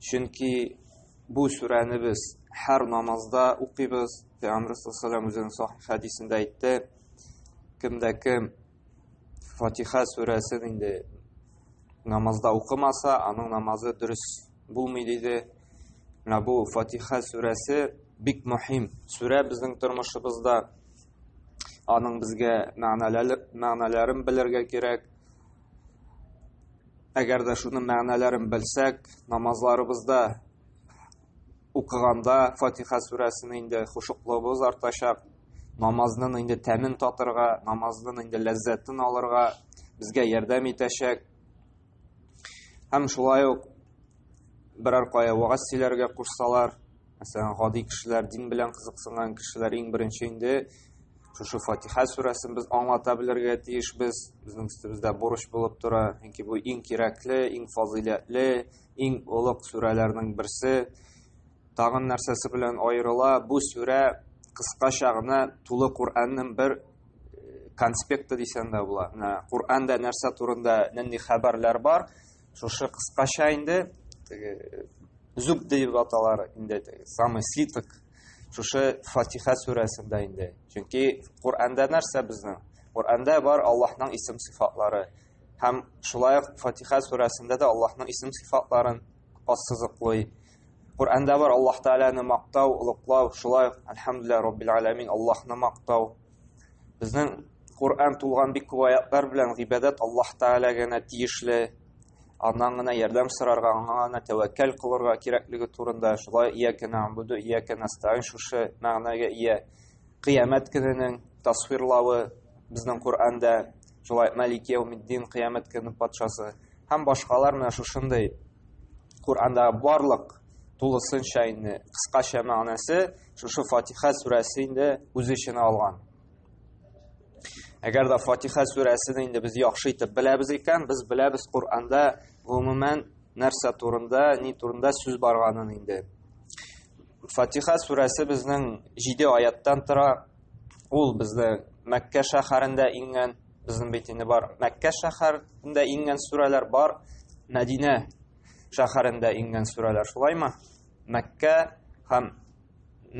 Чөнки бу сүрәне без һәр намазда укыйбыз. Пәйгамбер саллаллаху алейһи ва саллям хәдисендә әйтте, кемдә кем Фатиха сүрәсен инде намазда укымаса, аның намазы дөрес булмый диде. Менә бу Фатиха сүрәсе бик мөһим сүрә безнең тормышыбызда. Аның безгә мәгънәләрен белергә кирәк. Әгәр дә шуның мәгънәләрен белсәк, намазларыбызда укыганда Фатиха сүрәсен инде хушуклыгыбыз артачак, намазның инде тәмен татырга, намазның инде ләззәтен алырга безгә ярдәм итәчәк. Һәм шулай ук берәр кая вагаз сөйләргә кушсалар, Мәсәлән, гади кешеләр, дин белән кызыксынган кешеләр иң беренче инде шушы Фатиха сүрәсен без аңлата белергә тиеш без. Безнең өстебездә бурыч булып тора. Чөнки бу иң кирәкле, иң фазыйләтле, иң олуг сүрәләрнең берсе. Тагын нәрсәсе белән аерыла? Бу сүрә кыскача гына тулы Коръәннең бер э, конспекты дисәң дә була. Менә Коръәндә нәрсә турында нинди хәбәрләр бар? Шушы кыскача инде теге зуб дип аталар инде теге самый свиток шушы Фатиха сүрәсендә инде. Чөнки Коранда нәрсә безнең? Коранда бар Аллаһның исем сыйфатлары. Һәм шулай ук Фатиха сүрәсендә дә Аллаһның исем сыйфатларын ассызыклый. Коранда бар Аллаһ Тәгаләне мактау, улыклау, шулай ук Алхамдулиллаһ Раббил Аламин Аллаһны мактау. Безнең Коръән тулган бик күп аятлар белән гыйбадәт Аллаһ Тәгалә генә тиешле, аннан гына ярдәм сорарга, аңа гына тәвәккәл кылырга кирәклеге турында, шулай иякә нәгъбуду, иякә нәстәгыйн шушы мәгънәгә ия. Кыямәт көненең тасвирлавы безнең Коръәндә, шулай Малик яумиддин, кыямәт көненең патшасы һәм башкалар менә шушындый Коръәндә барлык тулысынча инде кыскача мәгънәсе Шушы Фатиха сүрәсе инде үз эченә алган. Әгәр дә Фатиха сүрәсен инде без яхшы итеп беләбез икән, без беләбез Коръәндә гомумән нәрсә турында, ни турында сүз барганын инде. Фатиха сүрәсе безнең 7 аяттан тора. Ул безне Мәккә шәһәрендә иңгән, безнең бит инде бар. Мәккә шәһәрендә иңгән сүрәләр бар, Мәдинә шәһәрендә иңгән сүрәләр, шулаймы? Мәккә һәм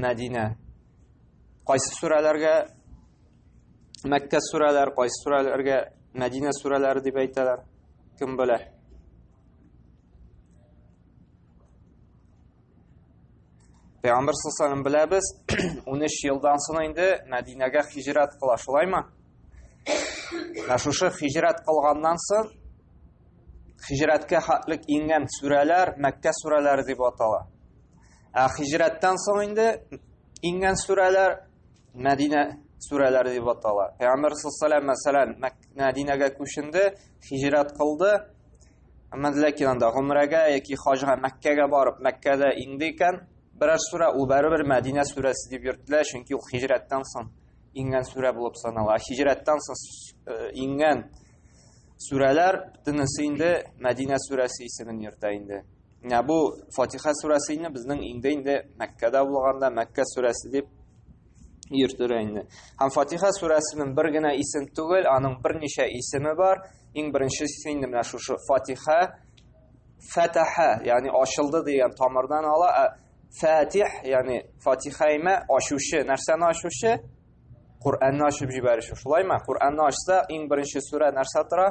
Мәдинә. Кайсы сүрәләргә Мәккә сүрәләр, кайсы сүрәләргә Мәдинә сүрәләре дип әйтәләр? Кем белә? Пәйгамбер саллаллаху беләбез, 13 елдан соң инде Мәдинәгә хиҗрәт кыла, шулаймы? Менә шушы хиҗрәт кылганнан соң хижрәткә хәтлек иңгән сүрәләр мәккә сүрәләре дип атала ә хижрәттән соң инде иңгән сүрәләр мәдинә сүрәләре дип атала пәйгамбәр саллаллаху мәсәлән мәдинәгә күченде хижрәт кылды әмма ләкин анда гомрәгә яки хаҗга мәккәгә барып мәккәдә иңде икән берәр сүрә ул бәрібір мәдинә сүрәсе дип йөртелә чөнки ул хижрәттән соң иңгән сүрә булып санала хижрәттән соң иңгән Сүрәләр бөтенесе инде Мәдинә сүрәсе исемен йөртә инде. Менә бу Фатиха сүрәсе инде безнең инде инде Мәккәдә булганда Мәккә сүрәсе дип йөртелә инде. Һәм Фатиха сүрәсенең бер генә исем түгел, аның берничә исеме бар. Иң беренчесе инде менә шушы Фатиха Фатаха, ягъни ачылды дигән тамырдан ала. Фатих, ягъни Фатихайма ачучы, нәрсәне ачучы? Коръәнне ачып җибәрүче. Шулаймы? Коръәнне ачса, иң беренче сүрә нәрсә тора?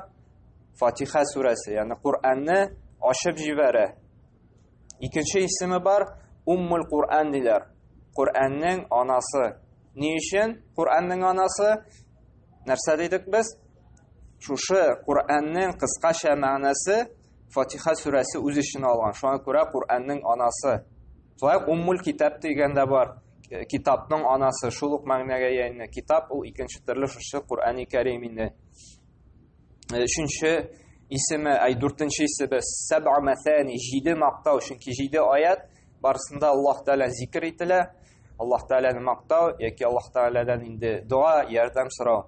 Фатиха сүрәсе, ягъни Коръәнне ачып җибәрә. Икенче исеме бар, Уммул Коръән диләр. Коръәннең анасы. Ни өчен Коръәннең анасы? Нәрсә дидек без? Шушы Коръәннең кыскача мәгънәсе Фатиха сүрәсе үз эченә алган. Шуңа күрә Коръәннең анасы. Шулай уммул китап дигән дә бар. Э, китапның анасы шул ук мәгънәгә ияйне. Китап ул икенче төрле шушы Коръәни Кәрим инде. Э, өченче исеме, ай дүртенче исеме Сәбъа мәсәни, җиде мактау, чөнки җиде аят барысында Аллаһ Тәгалә зикр ителә. Аллаһ Тәгаләне мактау яки Аллаһ Тәгаләдән инде дога, ярдәм сорау.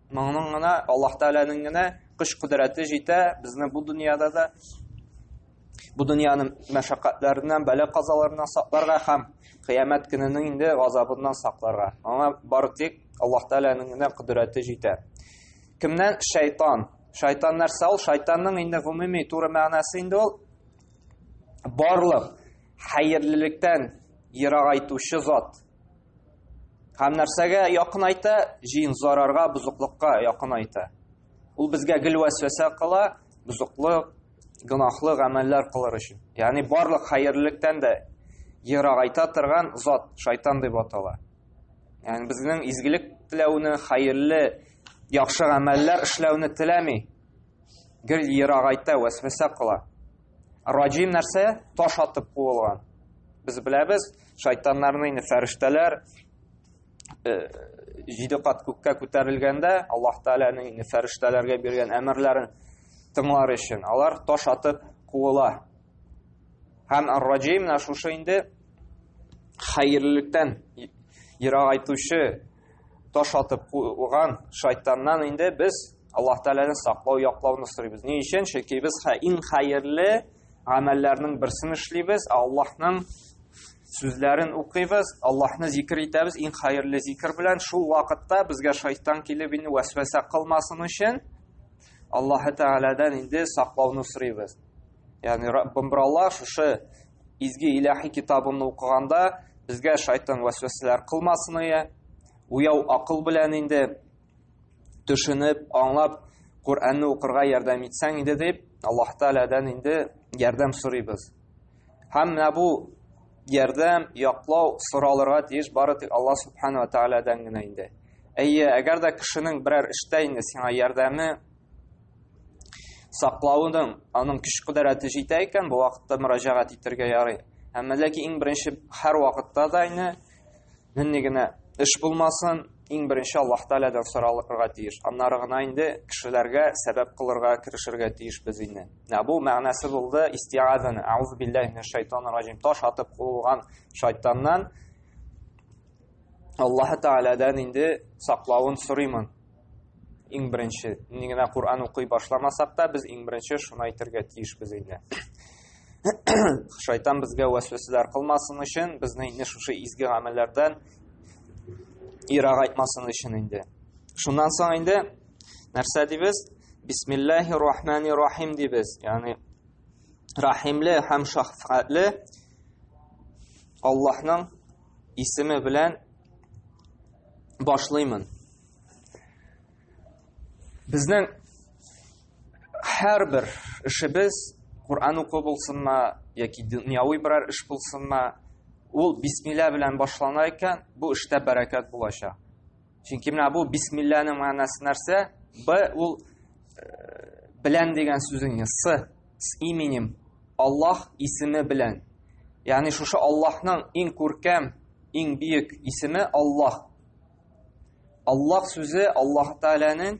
Моның гына Аллаһ Тәгаләнең генә көч кудрәте җитә безне бу дөньяда да бу дөньяны мәшәкатьләреннән, бәла казаларыннан сакларга һәм кыямәт көненең инде газабыннан сакларга. Аңа бары тик Аллаһ Тәгаләнең генә кудрәте җитә. Кемнән шайтан? Шайтан нәрсә ул? Шайтанның инде гомуми туры мәгънәсе инде ул барлык хәерлелектән ерагайтучы зат. Һәм нәрсәгә якын айта? Җин зарарга, бузыклыкка якын айта. Ул безгә гел вәсвәсә кыла, бузыклык, гынахлы гамәлләр кылыр өчен. Ягъни барлык хәерлелектән дә ерагайта торган зат шайтан дип атала. Ягъни безнең изгелек теләүне, хәерле, яхшы гамәлләр эшләүне теләми. Гел ерагайта, вәсвәсә кыла. Раҗим нәрсә? Таш атып куылган. Без беләбез, шайтаннарны инде фәрештәләр э, җиде кат күккә күтәрелгәндә, Аллаһ Тәгаләнең инде фәрештәләргә биргән әмерләрен тыңлар өчен, алар таш атып куыла. Һәм Ар-Раҗим менә шушы инде хәерлелектән ерагайтучы, таш атып куган шайтаннан инде без Аллаһ Тәгаләне саклау, яклауны сорыйбыз. Ни өчен? Чөнки без иң хәерле гамәлләрнең берсен эшлибез, Аллаһның сүзләрен укыйбыз, Аллаһны зикр итәбез, иң хәерле зикр белән шул вакытта безгә шайтан килеп инде вәсвәсә кылмасын өчен Аллаһ Тәгаләдән инде саклауны сорыйбыз. Ягъни Раббым Аллаһ шушы Изге иләхи китабымны укыганда безгә шайтан вәсвәсәләр кылмасын ие. Уяу акыл белән инде төшенеп, аңлап Коръәнне укырга ярдәм итсәң иде дип, Аллаһ Тәгаләдән инде ярдәм сорыйбыз. Һәм менә бу ярдәм, яклау соралырга тиеш бары тик Алла Субхану ва Тәгаләдән генә инде. Әйе, әгәр дә кешенең берәр эштә инде сиңа ярдәме саклауның аның көч кудрәте җитә икән, бу вакытта мөрәҗәгать итәргә ярый. Әмма ләкин иң беренче һәр вакытта да ине нинди генә эш булмасын, иң беренче Аллаһ Тәгаләдән соралырга тиеш. Аннары гына инде кешеләргә сәбәп кылырга, керешергә тиеш без инде. Менә бу мәгънәсе булды истиазаны. Аузу биллаһи минаш шайтанир ражим. Таш атып куылган шайтаннан Аллаһ Тәгаләдән инде саклавын сорыймын. Иң беренче, ни генә Коръән укый башламасак та, без иң беренче шуны әйтергә тиешбез инде. Шайтан безгә вәсвәсәләр кылмасын өчен, безне инде шушы изге гамәлләрдән ирак айтмасын өчен инде. Шуннан соң инде нәрсә дибез? Бисмиллахи рахмани рахим дибез. Ягъни рахимле һәм шафкатьле Аллаһның исеме белән башлыймын. Безнең һәрбер эшебез Коръән уку булсынмы яки дөньяви берәр эш булсынмы, ул бисмилла белән башлана икән, бу эштә бәрәкәт булачак. Чөнки менә бу бисмилланың мәгънәсе нәрсә? Б ул э, белән дигән сүзнең с с именем Аллаһ исеме белән. Ягъни шушы Аллаһның иң күркәм, иң бөек исеме Аллаһ. Аллах сүзе Аллаһ Тәгаләнең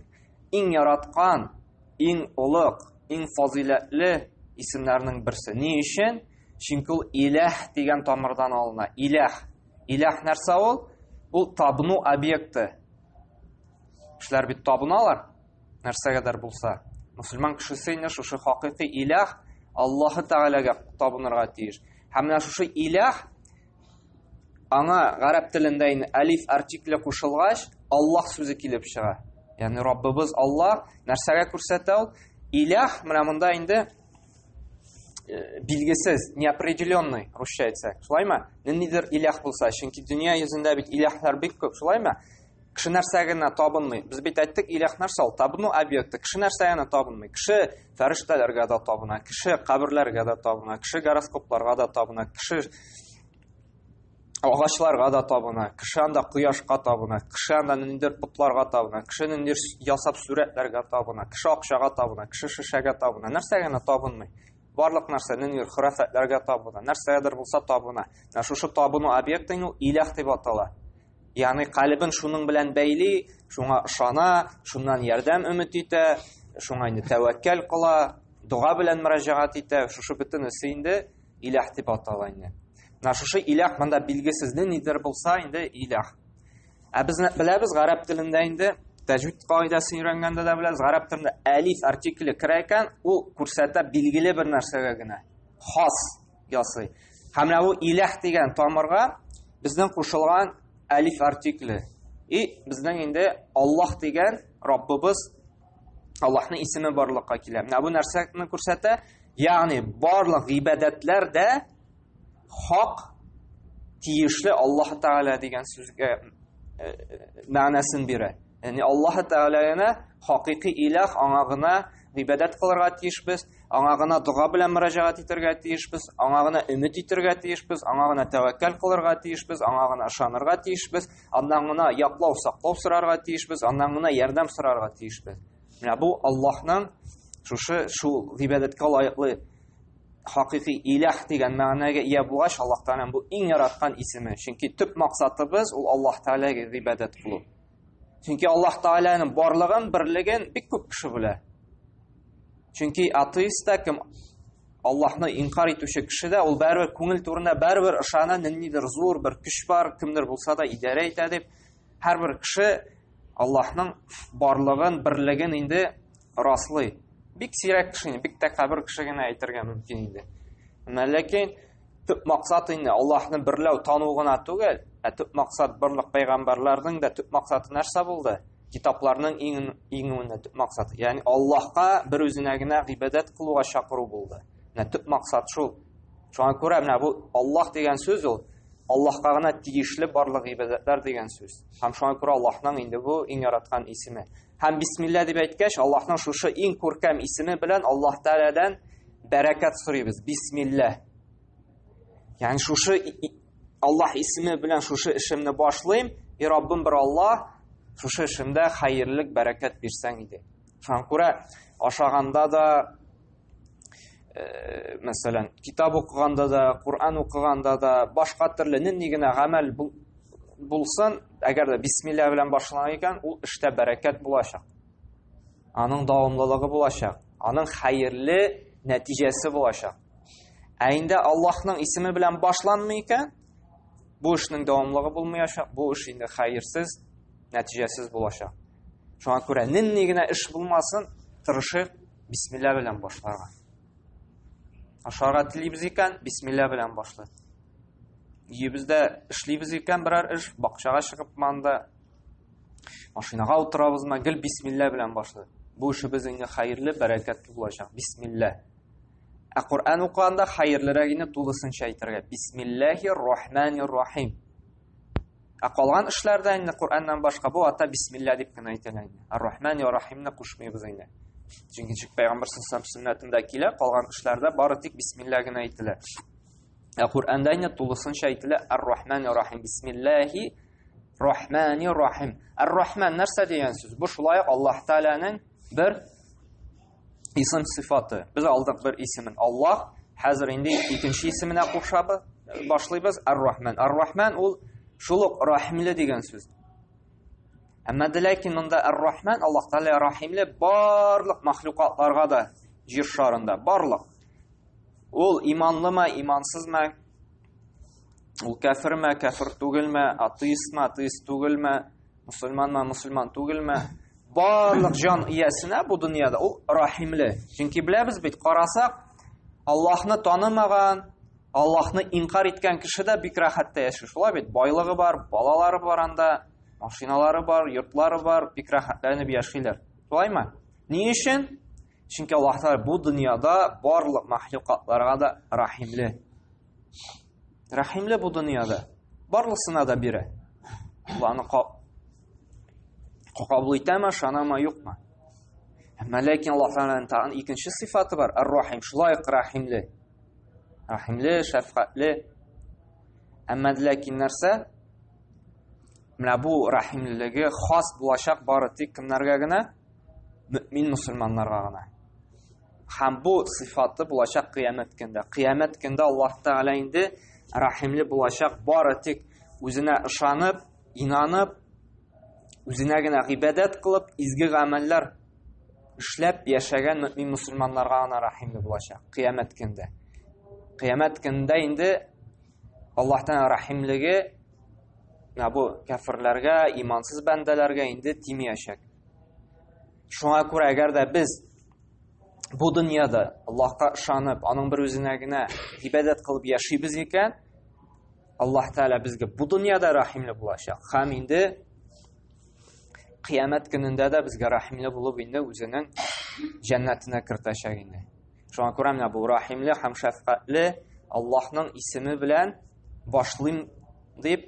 иң яраткан, иң олуг, иң фазыйләтле исемнәренең берсе. Ни өчен? Чөнки ул иләһ дигән тамырдан алына. Иләһ. Иләһ нәрсә ул? Ул табыну объекты. Кешеләр бит табыналар нәрсәгәдер булса. Мусульман кешесе инде шушы хакыйкый иләһ Аллаһы Тәгаләгә табынырга тиеш. Һәм менә шушы иләһ аңа гарәп телендә инде әлиф артикле кушылгач, Аллаһ сүзе килеп чыга. Ягъни Раббыбыз Аллаһ нәрсәгә күрсәтә ул? Илях менә монда инде э, билгесез, неопределенный, русча әйтсәк. Шулаймы? Ниндидер илях булса, чөнки дөнья йөзендә бит иляхлар бик күп, шулаймы? Кеше нәрсә генә табынмый. Без бит әйттек, иләх нәрсә ул? Табыну объекты. Кеше нәрсә генә табынмый. Кеше фәрештәләргә дә табына, кеше каберләргә дә табына, кеше гороскопларга да табына, кеше агачларга да табына, кеше анда кояшка табына, кеше анда ниндер потларга табына, кеше ниндер ясап сүрәтләргә табына, кеше акчага табына, кеше шешәгә табына. Нәрсә генә табынмый. Барлык нәрсә ниндер хөрәфәтләргә табына, нәрсәгәдер булса табына. Шушы табыну объектын ул иләх дип атала. Ягъни калебен шуның белән бәйли, шуңа ышана, шуннан ярдәм өмет итә, шуңа инде тәвәккәл кыла, дога белән мөрәҗәгать итә. Шушы бөтенесе инде иләх дип атала инде. Менә шушы иләх монда билгесез нидер булса инде иләх. Ә без беләбез гарәп телендә инде тәҗвид кагыйдәсен өйрәнгәндә дә беләбез, гарәп телендә әлиф артикле керә икән, ул күрсәтә билгеле бер нәрсәгә генә. Хас ясый. Һәм менә бу иләх дигән тамырга безнең кушылган әлиф артикле. И безнең инде Аллаһ дигән Раббыбыз Аллаһның исеме барлыкка килә. Менә бу нәрсәне күрсәтә. Ягъни барлык гыйбадәтләр дә хак тиешле Аллаһ Тәгалә дигән сүзгә э, мәгънәсен бирә. Яни Аллаһ Тәгаләне хакыйкый иләх аңа гына гыйбадәт кылырга тиешбез, аңа гына дога белән мөрәҗәгать итәргә тиешбез, аңа гына өмет итәргә тиешбез, аңа гына тәвәккәл кылырга тиешбез, аңа гына ышанырга тиешбез, аннан гына яклау, саклау сорарга тиешбез, аннан гына ярдәм сорарга тиешбез. Менә бу Аллаһның шушы шул гыйбадәткә лаеклы хакыйкый иләх дигән мәгънәгә ия булгач, Аллаһ Тәгаләнең бу иң яраткан исеме. Чөнки төп максатыбыз ул Аллаһ Тәгаләгә гыйбадәт кылу. Чөнки Аллаһ Тааляның барлыгын, берлеген бик күп кеше белә. Чөнки атеист та кем Аллаһны инкар итүче кеше дә ул бәрбер күңел турында бәрбер ышана, ниндидер зур бер көч бар, кемдер булса да идарә итә дип. Һәрбер кеше Аллаһның барлыгын, берлеген инде раслый. Бик сирәк кеше, бик тә кабер кеше генә әйтергә мөмкин инде. Әмма ләкин төп максат инде Аллаһны берләү тану гына түгел, ә төп максат барлык пәйгамбәрләрнең дә төп максаты нәрсә булды? Китапларның иң иңүенә төп максат. Ягъни Аллаһка бер үзенә генә гыйбадәт кылуга чакыру булды. Менә төп максат шул. Шуңа күрә менә бу Аллаһ дигән сүз ул Аллаһка гына тиешле барлык гыйбадәтләр дигән сүз. Һәм шуңа күрә Аллаһның инде бу иң яраткан исеме. Һәм бисмилла дип әйткәч, Аллаһның шушы иң күркәм исеме белән Аллаһ Тәгаләдән бәрәкәт сорыйбыз. Бисмилла. Ягъни шушы Аллаһ исеме белән шушы эшемне башлыйм, и Раббым бер Аллаһ, шушы эшемдә хәерлек, бәрәкәт бирсәң иде. Шуңа күрә ашаганда да, Э, мәсәлән, китап укыганда да, Коран укыганда да, башка төрле нинди генә гамәл булсын, әгәр дә бисмилла белән башланган икән, ул эштә бәрәкәт булачак. Аның дәвамлылыгы булачак, аның хәерле нәтиҗәсе булачак. Ә инде Аллаһның исеме белән башланмый икән, бу эшнең дәвамлыгы булмаячак, бу эш инде хәерсез, нәтиҗәсез булачак. Шуңа күрә нинди генә эш булмасын, тырышыйк Бисмилла белән башларга. Ашарга телибез икән, бисмилла белән башлыйк. Өебездә эшлибез икән берәр эш, бакчага чыгып манда машинага утырабызмы, гел бисмилла белән башлыйк. Бу эшебез инде хәерле, бәрәкәтле булачак. Бисмилла. Ә Коръән укыганда хәерлерәгене тулысынча әйтергә. Бисмиллахир рахманир рахим. Ә калган эшләрдә инде Коръәннән башка бу ата бисмилла дип кенә әйтелә инде. Ар-Рахман ва Рахимны кушмыйбыз инде. Чөнки ничек пәйгамбер сәлләһу сөннәтендә килә, калган эшләрдә бары тик бисмилла генә әйтелә. Ә Коръәндә инде тулысынча әйтелә Ар-Рахман ва Рахим бисмиллахи Рахмани Рахим. Ар-Рахман нәрсә дигән сүз? Бу шулай Аллаһ Тааляның бер исем сыйфаты. Без алдык бер исемен Аллаһ, хәзер инде икенче исеменә кушабыз, башлыйбыз Ар-Рахман. Ар-Рахман ул шул ук рәхимле дигән сүз. Әмма дә ләкин монда Ар-Рахман Аллаһ Тәгалә рәхимле барлык мәхлукатларга да җир шарында, барлык. Ул иманлымы, имансызмы, Ул кәферме, кәфер түгелме, атеистме, атеист түгелме, мусульманмы, мусульман түгелме? Барлык җан иясенә бу дөньяда ул рахимле. Чөнки беләбез бит, карасак, Аллаһны танымаган, Аллаһны инкар иткән кеше дә бик рәхәттә яши. Шулай бит, байлыгы бар, балалары бар анда, машиналары бар, йортлары бар, бик рәхәтләнеп яшиләр. Шулаймы? Ни өчен? Чөнки Аллаһ Тәгалә бу дөньяда барлык мәхлукатларга да рәхимле. Рәхимле бу дөньяда. Барлысына да бирә. Аллаһны кабул итәме, шанама юкмы? Әмма ләкин Аллаһ Тәгаләнең тагын икенче сыйфаты бар, ар-рахим, шулай ук рәхимле. Рәхимле, шәфкатьле. Әмма ләкин нәрсә? Менә бу рәхимлелеге хас булачак бары тик кемнәргә генә? мөмин мөселманнарга гына һәм бу сыйфаты булачак кыямәт көндә кыямәт көндә аллаһ тәгалә инде рәхимле булачак бары тик үзенә ышанып инанып үзенә генә гыйбадәт кылып изге гамәлләр эшләп яшәгән мөмин мөселманнарга гына рәхимле булачак кыямәт көндә кыямәт көндә инде аллаһ тәгалә рәхимлеге бу кәферләргә имансыз бәндәләргә инде тимәячәк Шуңа күрә, әгәр дә без бу дөньяда Аллаһка ышанып, аның бер үзенә генә ибәдәт кылып яшибез икән, Аллаһ Тәала безгә бу дөньяда рәхимле булачак. Хәм инде кыямәт көнендә дә безгә рәхимле булып инде үзенең җәннәтенә кертәчәк инде. Шуңа күрә менә бу рәхимле һәм шәфкатьле Аллаһның исеме белән башлыйм дип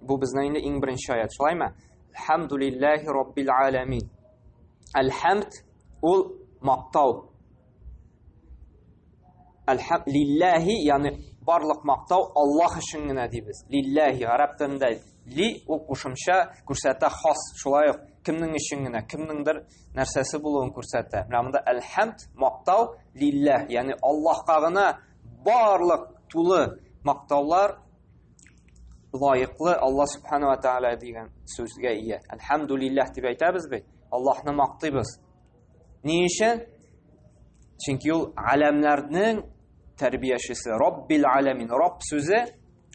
Бу безнең инде иң беренче аят, шулаймы? Алхамдулиллахи раббил аламин. Алхамд ул мактау. Алхам лиллахи, ягъни барлык мактау Аллаһ өчен генә дибез. Лиллахи гарәп телендә ли ул кушымча күрсәтә хас, шулай ук кемнең өчен генә, кемнеңдер нәрсәсе булуын күрсәтә. Менә монда әлхәмд, мактау лиллах, ягъни Аллаһка гына барлык тулы мактаулар лаеклы Алла субхана ва тааля дигән сүзгә ия. Әлхәмдулилләһ дип әйтәбез бит. Аллаһны мактыйбыз. Ни өчен? Чөнки ул галәмнәрнең тәрбиячесе, Раббил аламин. Рабб сүзе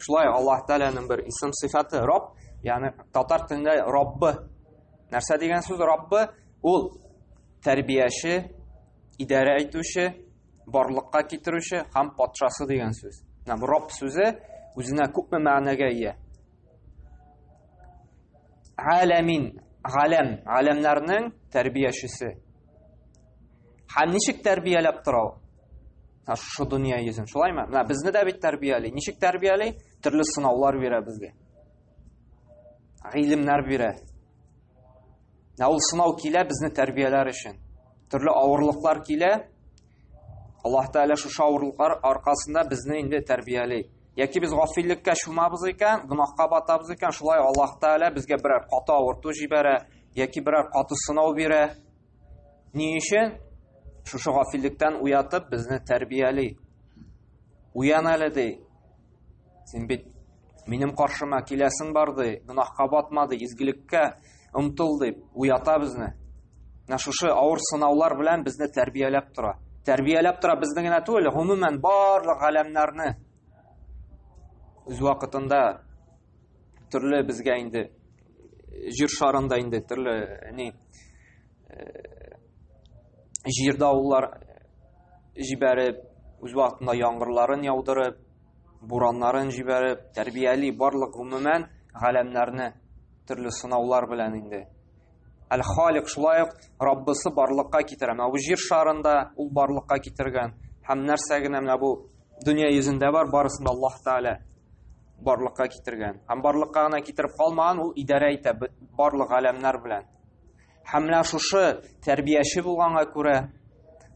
шулай Аллаһ Тааляның бер исем сыйфаты, Рабб, ягъни татар телендә Раббы. Нәрсә дигән сүз Раббы? Ул тәрбияче, идарә итүче, барлыкка китерүче һәм патшасы дигән сүз. Менә бу Рабб сүзе үзенә күпме мәгънәгә ия. Галәмин, галәм, галәмнәрнең тәрбиячесе. Һәм ничек тәрбияләп тора ул? Шушы дөнья йөзен, шулаймы? Менә безне дә бит тәрбияли. Ничек тәрбияли? Төрле сынаулар бирә безгә. Гыйлемнәр бирә. Ә ул сынау килә безне тәрбияләр өчен. Төрле авырлыклар килә. Аллаһ Тәгалә шушы авырлыклар аркасында безне инде тәрбияли. Яки без гафиллеккә чумабыз икән, гөнаһка батабыз икән, шулай Аллаһ Тәгалә безгә берәр каты авырту җибәрә, яки берәр каты сынау бирә. Ни өчен? Шушы гафиллекдән уятып безне тәрбияли. Уян әле ди. Син бит минем каршыма киләсең бар ди, гөнаһка батма ди, изгелеккә омтыл дип уята безне. Менә шушы авыр сынаулар белән безне тәрбияләп тора. Тәрбияләп тора безне генә түгел, гомумән барлык галәмнәрне үз вакытында төрле безгә инде җир шарында инде төрле ни җирдә авыллар җибәреп, үз вакытында яңгырларын яудырып, бураннарын җибәреп, тәрбияли барлык гомумән галәмнәрне төрле сынаулар белән инде. Әл-Халик шулай ук Раббысы барлыкка китерә. Менә бу җир шарында ул барлыкка китергән. Һәм нәрсә генә менә бу дөнья йөзендә бар, барысын да Аллаһ Тәгалә барлыкка китергән. Һәм барлыкка гына китереп калмаган, ул идарә итә барлык галәмнәр белән. Һәм менә шушы тәрбияче булганга күрә,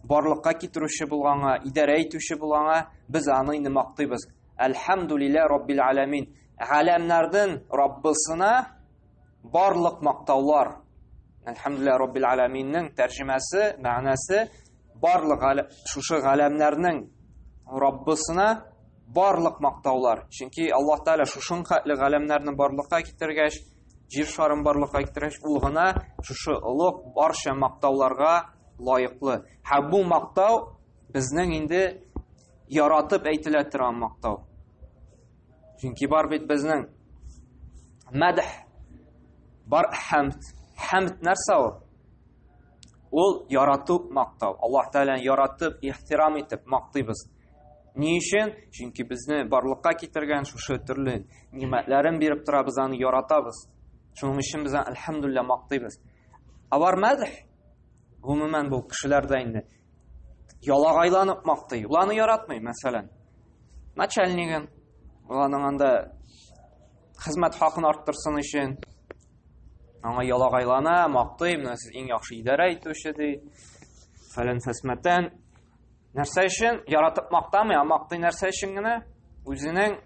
барлыкка китерүче булганга, идарә итүче булганга без аны инде мактыйбыз. Әлхәмдулилла Раббил Аламин. Галәмнәрдән Раббысына барлык мактаулар. Әлхәмдулилла Раббил Аламиннең тәрҗемәсе, мәгънәсе барлык шушы галәмнәрнең Раббысына барлык мактаулар. Чөнки Аллаһ Тәгалә шушынкатлы галәмнәрне барлыкка китергәч, Җир шарын барлыкка китерәч, ул гына шушы олуг барча мактауларга лаеклы. Һәм бу мактау безнең инде яратып әйтелә торган мактау. Чөнки бар бит безнең мәдх бар хәмд. Хәмд нәрсә ул? Ул ярату мактау. Аллаһ Тәгаләне яратып, ихтирам итеп мактыйбыз. Ни өчен? Чөнки безне барлыкка китергән шушы төрле нимәтләрен биреп тора, без аны яратабыз. Шуның өчен без альхамдулилла мактыйбыз. Алар мәдх гомумән бу кешеләрдә инде ялагайланып мактый. Ул аны яратмый, мәсәлән. Начальнигын, уланың анда хезмәт хакын арттырсын өчен аңа ялагайлана, мактый, менә сез иң яхшы идарә итүче ди. Фәлән фәсмәтән Нәрсә өчен? Яратып мактамый, а мактый нәрсә өчен генә? Үзенең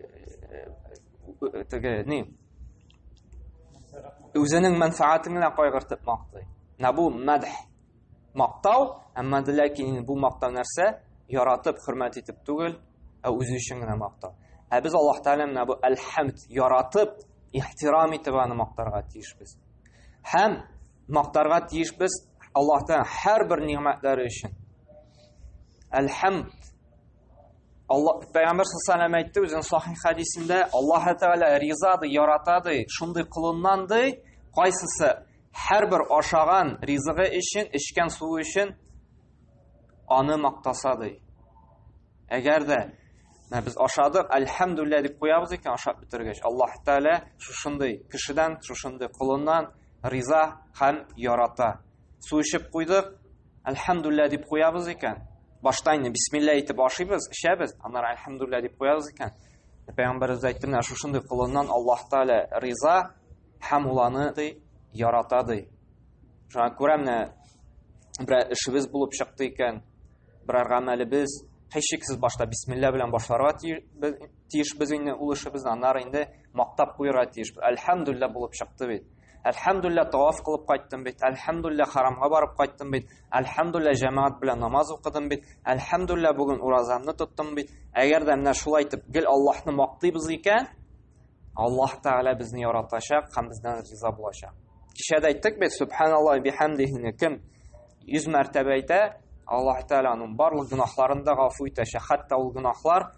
э, теге ни? Үзенең мәнфәгатен генә кайгыртып мактый. Менә бу мәдх. Мактау, әмма ләкин бу мактау нәрсә? Яратып, хөрмәт итеп түгел, ә үзе өчен генә мактау. Ә без Аллаһ Тәгалә менә бу әл-хәмд яратып, ихтирам итеп аны мактарга тиешбез. Һәм мактарга тиешбез Аллаһтан һәрбер нигъмәтләре өчен. Әлхәмд. Алла Пәйгамбер саллаллаху әйтте үзенең сахих хадисендә, Аллаһ Тәгалә ризады, яратады, шундый кулыннан ди, кайсысы һәрбер ашаган ризыгы өчен, эчкән суы өчен аны мактаса ди. Әгәр дә без ашадык, әлхәмдүлилләһ дип куябыз икән ашап бетергәч, Аллаһ Тәгалә шушындый кешедән, шушындый кулыннан риза һәм ярата. Су эчеп куйдык, әлхәмдүллә дип куябыз икән. Башта инде бисмилла итеп ашыйбыз, эчәбез, аннары әлхәмдүллә дип куябыз икән. Пәйгамбәрбез әйтте, менә шушындый кулыннан Аллаһ Тәгалә риза һәм ул аны ди, ярата ди. Шуңа күрә менә берәр эшебез булып чыкты икән, берәр гамәлебез, һичшиксез башта бисмилла белән башларга тиеш тиешбез инде ул эшебезне, аннары инде мактап куярга тиешбез. Әлхәмдулилла булып чыкты бит. Әлхәмдулилла таваф кылып кайттым бит. Әлхәмдулилла харамга барып кайттым бит. Әлхәмдулилла җәмәгать белән намаз укыдым бит. Әлхәмдулилла бүген уразамны тоттым бит. Әгәр дә менә шулай итеп гел Аллаһны мактыйбыз икән, Аллаһ Тәгалә безне яратачак һәм бездән риза булачак. Кичә дә әйттек бит, субханаллаһи бихәмдихи кем 100 мәртәбә әйтә, Аллаһ Тәгалә аның барлык гөнаһларын да гафу итәчәк. Хәтта ул гөнаһлар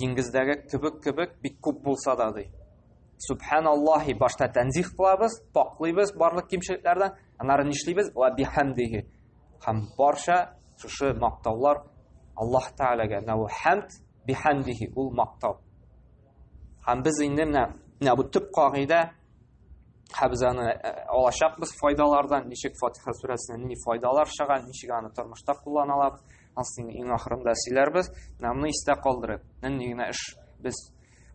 Диңгездәге кебек кебек бик күп булса да ди. Субханаллахи башта тәнзих кылабыз, паклыйбыз барлык кимчелекләрдән, аннары нишлибез? Ва бихамдиһи. Һәм барча шушы мактаулар Аллаһ Тәгаләгә. Нәү хамд бихамдиһи ул мактау. Һәм без инде менә менә бу төп кагыйдә хәбзаны э, алачакбыз файдалардан ничек фатиха сүрәсеннән ни файдалар чыга ничек аны тормышта кулланалар асын иң ахырында сөйләрбез менә моны истә калдырып нинди генә эш без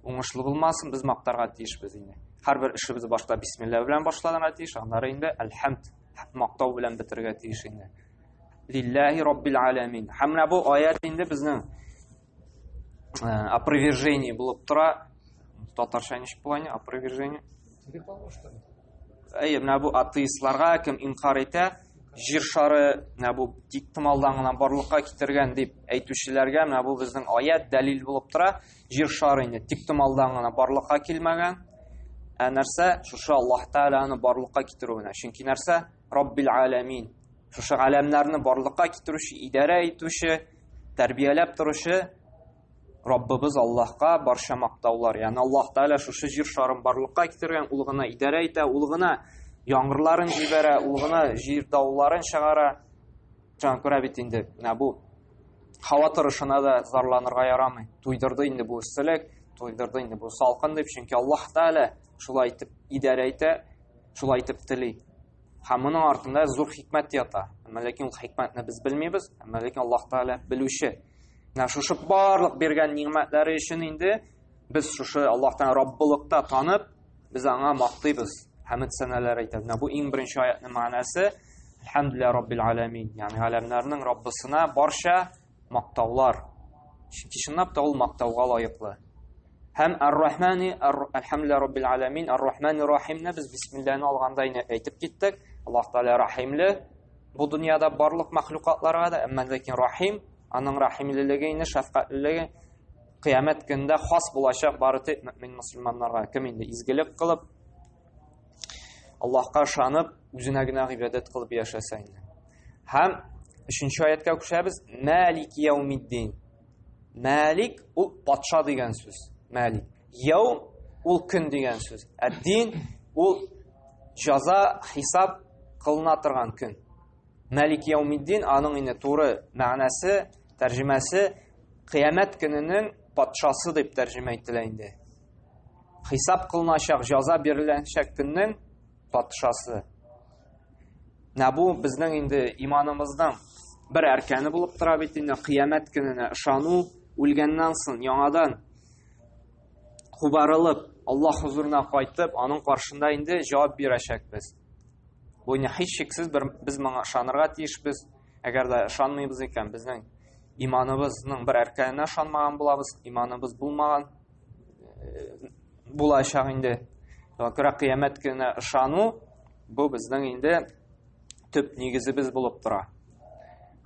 уңышлы булмасын без мактарга тиешбез инде һәрбер эшебез башта бисмилла белән башланырга тиеш аннары инде әлхәмд мактау белән бетергә тиеш инде лилләһи роббил аләмин һәм менә бу аят инде безнең ә, опровержение булып тора татарша ничек була аны опровержение әйе менә бу атеистларга кем инкар итә җир шары менә бу тиктымалдан гына барлыкка китергән дип әйтүчеләргә менә бу безнең аят дәлил булып тора җир шары инде тиктымалдан гына барлыкка килмәгән ә нәрсә шушы аллаһ тәгаләне барлыкка китерү менә чөнки нәрсә Раббил Алямин. Шушы галәмнәрне барлыкка китерүче, идарә итүче, тәрбияләп торучы Раббыбыз Аллаһка барча мактаулар. Ягъни Аллаһ Тәгалә шушы җир шарын барлыкка китергән, ул гына идарә итә, ул гына яңгырларын җибәрә, ул гына җир дауларын чыгара. Җан күрә бит инде, менә бу һава торышына да зарланырга ярамый. Туйдырды инде бу эсселек, туйдырды инде бу салкын дип, чөнки Аллаһ Тәгалә шулай итеп идарә итә, Шулай итеп тели. Һәм моның артында зур хикмәт ята. Әмма ләкин ул хикмәтне без белмибез, әмма ләкин Аллаһ Тәгалә белүче. Менә шушы барлык биргән нигъмәтләре өчен инде без шушы Аллаһтан Раббылыкта танып, без аңа мактыйбыз, хәмд сәнәләр әйтәбез. Менә бу иң беренче аятның мәгънәсе. Әлхәмдүлилләһи раббил аламин. Ягъни галәмнәрнең Раббысына барча Мактаулар. Чөнки чынлап та ул мактауга лаеклы. Һәм Ар-Рахмани, Ар-Рахмле Раббил Аламин, Ар-Рахмани Рахимне без бисмилләне алганда инде әйтеп киттек. Аллаһ Тәгалә Рахимле бу дөньяда барлык мәхлукатларга да, әмма ләкин Рахим, аның рахимлелеге инде шәфкатьлелеге кыямәт көндә хас булачак бары тик мөмин мусламаннарга. Кем инде изгелек кылып, Аллаһка ышанып, үзенә генә гыйбадәт кылып яшәсә инде. Һәм өченче аяткә күчәбез. Мәлик яумиддин. Мәлик ул патша дигән сүз. Мәлик. Яум ул көн дигән сүз. Әддин ул җаза, хисап кылына торган көн. Мәлик яумиддин аның инде туры мәгънәсе, тәрҗемәсе кыямәт көненең патшасы дип тәрҗемә ителә инде. Хисап кылыначак, җаза биреләчәк көннең патшасы. Менә бу безнең инде иманымызның бер әркәне булып тора бит инде кыямәт көненә ышану, үлгәннән соң яңадан кубарылып, Алла хузурына кайтып, аның каршында инде җавап бирәчәкбез. Бу инде һичшиксез бер без моңа ышанырга тиешбез. Әгәр дә ышанмыйбыз икән, безнең иманыбызның бер әркәненә ышанмаган булабыз, иманыбыз булмаган булачак инде. Вакыра кыямәт көненә ышану бу безнең инде төп нигезебез булып тора.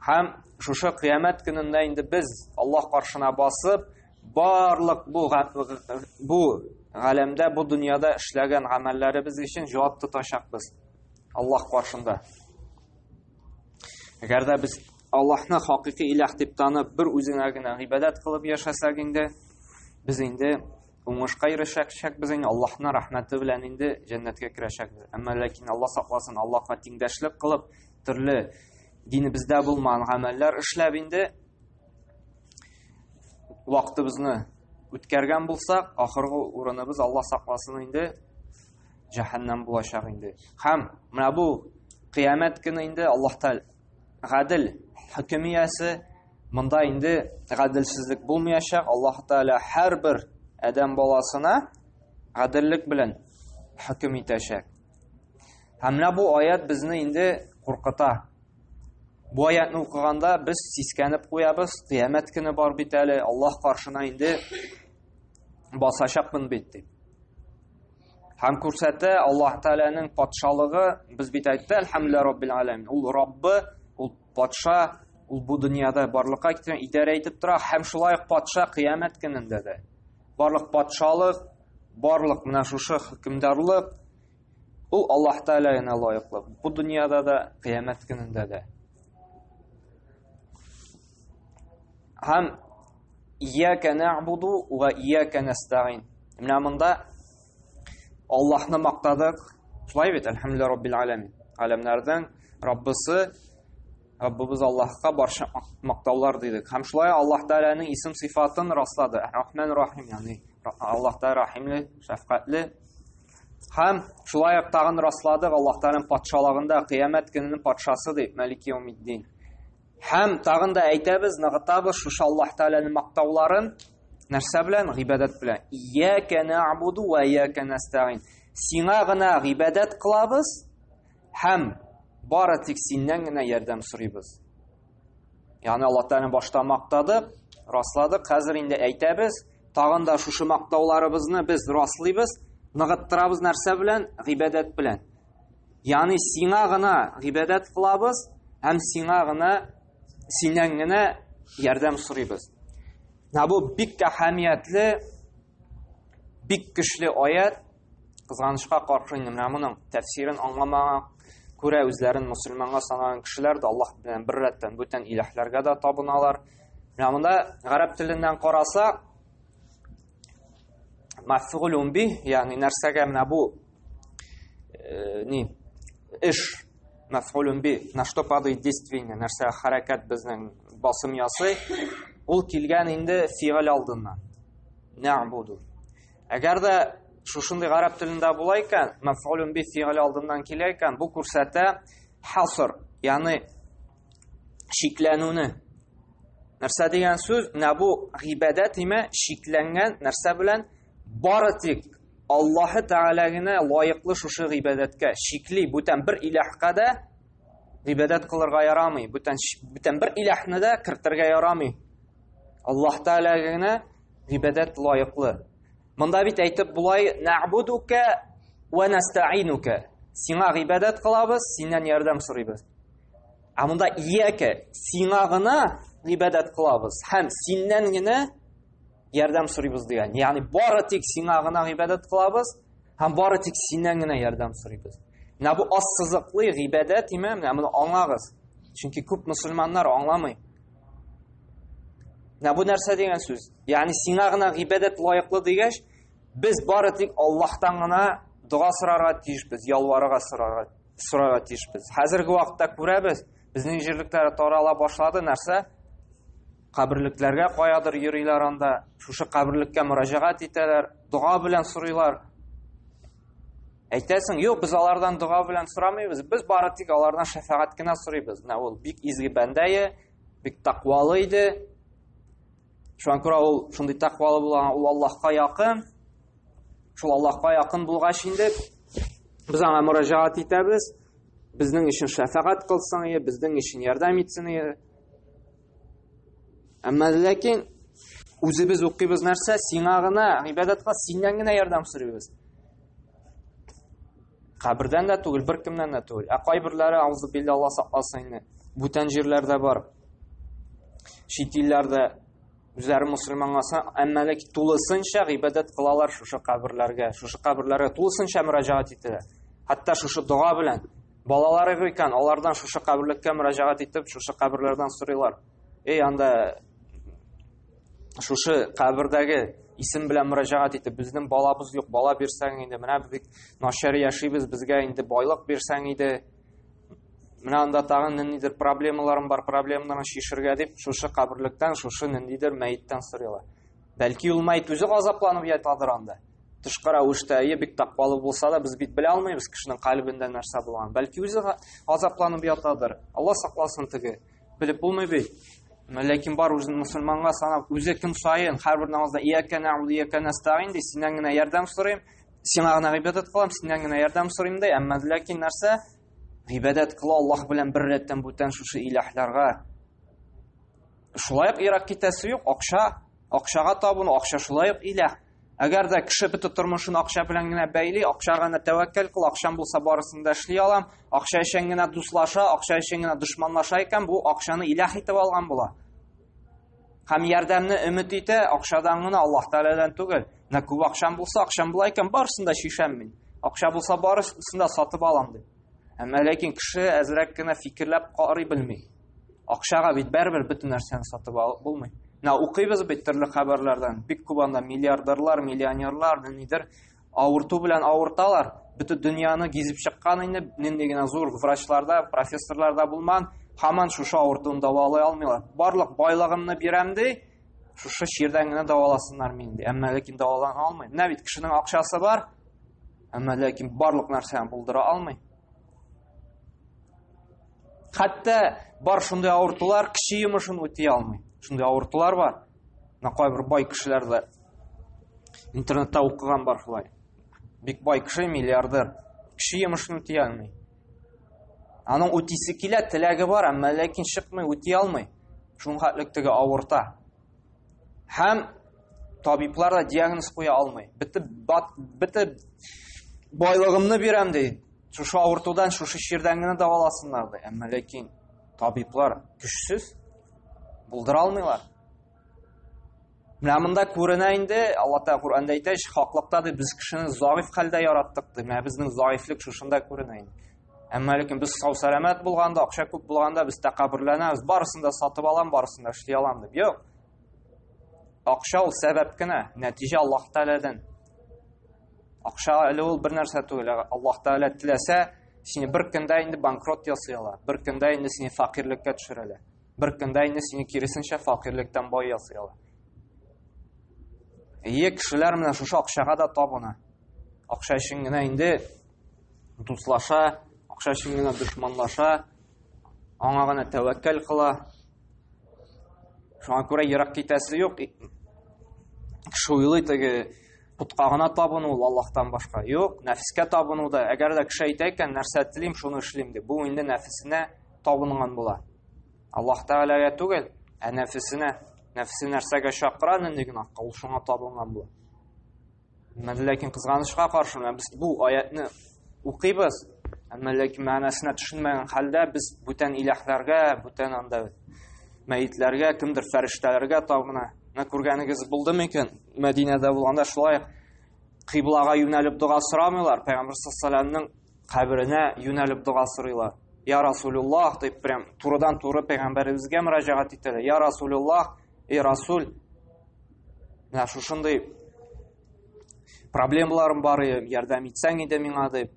Һәм шушы кыямәт көнендә инде без Аллаһ каршына басып, барлык бу бу галәмдә, бу дөньяда эшләгән гамәлләребез өчен җавап тотачакбыз Аллаһ каршында. Әгәр дә без Аллаһны хакыйкый иләх дип танып, бер үзеңә генә гыйбадәт кылып яшәсәк инде, без инде уңышка ирешәчәкбез инде, Аллаһны рәхмәте белән инде җәннәткә керәчәкбез. Әмма ләкин Алла сакласын, Аллаһка тиңдәшлек кылып, төрле динебездә булмаган гамәлләр эшләп инде вакытыбызны үткәргән булсак, ахыргы урыныбыз Алла сакласын инде җәһәннәм булачак инде. Һәм менә бу кыямәт көне инде Аллаһ гадел хөкем иясе монда инде гаделсезлек булмаячак аллаһ тәала һәрбер адәм баласына гаделлек белән хөкем итәчәк һәм менә бу аят безне инде куркыта бу аятны укыганда без сискәнеп куябыз кыямәт көне бар бит әле аллаһ каршына инде басачакмын бит дип Һәм күрсәтә Аллаһ Тәгаләнең патшалыгы, без бит әйтте, әлхәмдүлилләһи раббил аләмин. Ул Раббы, ул патша, ул бу дөньяда барлыкка китерә, идарә итеп тора һәм шулай ук патша кыямәт көнендә дә. Барлык патшалык, барлык менә шушы хөкемдарлык ул Аллаһ Тәгалә генә лаеклы. Бу дөньяда да, кыямәт көнендә дә. Һәм ияка нәгъбуду ва ияка нәстәгин. Менә монда Аллаһны мактадык. Шулай бит, әлхәмдүлилләһи раббил аламин. Галәмнәрнең Раббысы Раббыбыз Аллаһка барча мактаулар дидек. Һәм шулай Аллаһ Тәгаләнең исем сыйфатын раслады. Рахман Рахим, ягъни Аллаһ Тәгалә Рахимле, шәфкатьле. Һәм шулай ук тагын расладык Аллаһ Тәгаләнең патшалыгында кыямәт көненең патшасы дип, Малик Яумиддин. Һәм тагын да әйтәбез, ныгытабыз шушы Аллаһ Тәгаләнең мактауларын нәрсә белән? Гыйбадәт белән. Ияка нәгъбуду ва ияка нәстәгин. Сиңа гына гыйбадәт кылабыз һәм бары тик синнән генә ярдәм сорыйбыз. Ягъни Аллаһ Тәгаләне башта мактадык, расладык, хәзер инде әйтәбез, тагын да шушы мактауларыбызны без раслыйбыз, ныгыттырабыз нәрсә белән? Гыйбадәт белән. Ягъни сиңа гына гыйбадәт кылабыз һәм сиңа гына синнән генә ярдәм сорыйбыз. Менә бу бик әһәмиятле, бик көчле аят. Кызганычка каршы инде менә моның тәфсирен аңламаган, күрә үзләрен мусульманга санаган кешеләр дә Аллаһ белән бер рәттән бүтән иләһләргә дә табыналар. Менә монда гарәп теленнән карасак, Мафгулун би, ягъни нәрсәгә менә бу э, ни эш мафгулун би, на что падает действие, нәрсә хәрәкәт безнең басым ясый, ул килгән инде фигыль алдыннан. Нәгъбуду. Әгәр дә шушындый гарәп телендә була икән, мәфгулун би фигыль алдыннан килә икән, бу күрсәтә хаср, ягъни шикләнүне нәрсә дигән сүз менә бу гыйбадәт имә шикләнгән нәрсә белән бары тик аллаһы тәгалә генә лаеклы шушы гыйбадәткә шикли бүтән бер иләһкә дә гыйбадәт кылырга ярамый бүтән бүтән бер иләһне дә кертергә ярамый аллаһ тәгалә генә гыйбадәт лаеклы монда бит әйтеп болай нәгбудука вә нәстәинука сиңа гыйбадәт кылабыз синнән ярдәм сорыйбыз Ә монда ияке, сиңа гына гыйбадәт кылабыз һәм синнән генә ярдәм сорыйбыз дигән. Ягъни бары тик сиңа гына гыйбадәт кылабыз һәм бары тик синнән генә ярдәм сорыйбыз. Менә бу ассызыклы гыйбадәт име, менә моны аңлагыз. Чөнки күп мусульманнар аңламый. Менә бу нәрсә дигән сүз? Ягъни сиңа гына гыйбадәт лаеклы дигәч, без бары тик Аллаһтан гына дога сорарга тиешбез, ялварырга сорарга сорарга тиешбез. Хәзерге вакытта күрәбез, безнең җирлекләр тарала башлады, нәрсә? Каберлекләргә каядыр йөриләр анда, шушы каберлеккә мөрәҗәгать итәләр, дога белән сорыйлар. Әйтәсең, юк, без алардан дога белән сорамыйбыз, без бары тик алардан шәфәгать кенә сорыйбыз. Менә ул бик изге бәндәе, бик тәкъвалы иде. Шуңа күрә ул шундый тәкъвалы булган, ул Аллаһка якын. Шул Аллаһка якын булгач инде без аңа мөрәҗәгать итәбез. Безнең өчен шәфәгать кылсын, е, безнең өчен ярдәм итсен. Е. Әмма ләкин үзебез укыйбыз нәрсә? Сиңа гына, гыйбадәткә синнән генә ярдәм сорыйбыз. Кабердән дә түгел, бер кемнән дә түгел. Ә кайберләре аузы биллә Алла сакласын инде. Бүтән җирләрдә бар. Чит илләрдә үзләре мусульманласа, әмма ләкин тулысынча гыйбадәт кылалар шушы каберләргә, шушы каберләргә тулысынча мөрәҗәгать итәләр. Хәтта шушы дога белән балалары икән, алардан шушы каберлеккә мөрәҗәгать итеп, шушы каберләрдән сорыйлар. Эй, анда шушы кабердәге исем белән мөрәҗәгать итеп безнең балабыз юк бала бирсәң инде менә бик начар яшибез безгә инде байлык бирсәң иде менә анда тагын ниндидер проблемаларым бар проблемаларны шешергә дип шушы каберлектән шушы ниндидер мәеттән сорыйлар бәлки ул мәет үзе газапланып ятадыр анда тышкы рәвештә әйе бик таппалы булса да без бит белә алмыйбыз кешенең кальбендә нәрсә булганын бәлки үзе газапланып ятадыр алла сакласын теге Белеп булмый бит. Ләкин бар үзен мусульманга санап, үзе көн саен һәрбер намазда иякә нәгъбуду иякә нәстәгин ди, синнән генә ярдәм сорыйм, сиңа гына гыйбадәт кылам, синнән генә ярдәм сорыйм ди. Әмма ләкин нәрсә? Гыйбадәт кыла Аллаһ белән бер рәттән бүтән шушы иләһләргә. Шулай ук ирак китәсе юк, акча, акчага табыну, акча шулай ук иләһ. Әгәр дә кеше бөтен тормышын акча белән генә бәйли, акча гына тәвәккәл кыл, акчам булса барысын да эшли алам, акча өчен генә дуслаша, акча өчен генә дошманлаша икән, бу акчаны илах итеп алган була. Һәм ярдәмне өмет итә, акчадан гына Аллаһ Тәгаләдән түгел. Нә күп акчам булса, акчам була икән, барысын да шишәм мин. Акча булса барысын да сатып алам дип. Әмма ләкин кеше әзрәк кенә фикерләп карый белми. Акчага бит бәрбер бөтен нәрсәне сатып алып булмый. Менә укыйбыз бит төрле хәбәрләрдән. Бик күп анда миллиардерлар, миллионерлар, нидер авырту белән авырталар. Бөтен дөньяны гизеп чыккан инде, нинди генә зур врачларда, профессорларда булман, хаман шушы авыртуны давалай алмыйлар. Барлык байлыгымны бирәм ди, шушы чирдән генә даваласыннар мин ди. Әмма ләкин давалан алмый. Менә бит кешенең акчасы бар, әмма ләкин барлык нәрсәне булдыра алмый. Хәтта бар шундый авыртулар кеше йомышын үти алмый. Шундый авыртулар бар. Менә кайбер бай кешеләр дә интернетта укыган бар шулай. Бик бай кеше, миллиардер. Кеше йомышын үти алмый. Аның үтисе килә, теләге бар, әмма ләкин чыкмый, үти алмый. Шуңа хәтлек теге авырта. Һәм табиблар да диагноз куя алмый. Битеп бат битеп байлыгымны бирәм ди. Шушы авыртудан, шушы чирдән генә даваласыннар ди. Әмма ләкин табиблар көчсез булдыра алмыйлар. Менә монда күренә инде, Алла Тәгалә Куранда әйтә, хаклыкта ди, без кешене заиф хәлдә яраттык ди. Менә безнең заифлек шушында күренә инде. Әмма ләкин без сау сәламәт булганда, акча күп булганда без тәкәбберләнәбез, барысын да сатып алам, барысын да эшли алам дип. Юк. Акча ул сәбәп кенә, нәтиҗә Аллаһ Тәгаләдән. Акча әле ул бер нәрсә түгел. Аллаһ Тәгалә теләсә, сине бер көндә инде банкрот ясый ала, бер көндә инде сине факирлеккә төшерә ала. Бер көндә инде сине киресенчә факирлектән бай ясый ала. Ие кешеләр менә шушы акчага да табына. Акча өчен генә инде дуслаша, акча өчен генә дошманлаша, аңа гына тәвәккәл кыла. Шуңа күрә ерак китәсе юк. Кеше уйлый теге путка гына табыну ул Аллаһтан башка. Юк, нәфескә табыну да. Әгәр дә кеше әйтә икән, нәрсә телим, шуны эшлим дип, бу инде нәфесенә табынган була. Аллаһ Тәгаләгә түгел, ә нәфесенә. Нәфесе нәрсәгә чакыра, нинди генә, ул шуңа табынган була. Әмма ләкин кызганычка каршы, менә без бу аятны укыйбыз, әмма ләкин мәгънәсенә төшенмәгән хәлдә без бүтән иләһләргә, бүтән анда мәетләргә, кемдер фәрештәләргә табына. Менә күргәнегез булды микән? Мәдинәдә булганда шулай кыйблага юнәлеп дога сорамыйлар, пәйгамбер саллаллаһу каберенә юнәлеп дога сорыйлар. Я Расулуллах дип прям турыдан туры пәйгамбәребезгә мөрәҗәгать итәләр. Я Расулуллах, и Расул, менә шушындый проблемаларым бар ярдәм итсәң иде миңа дип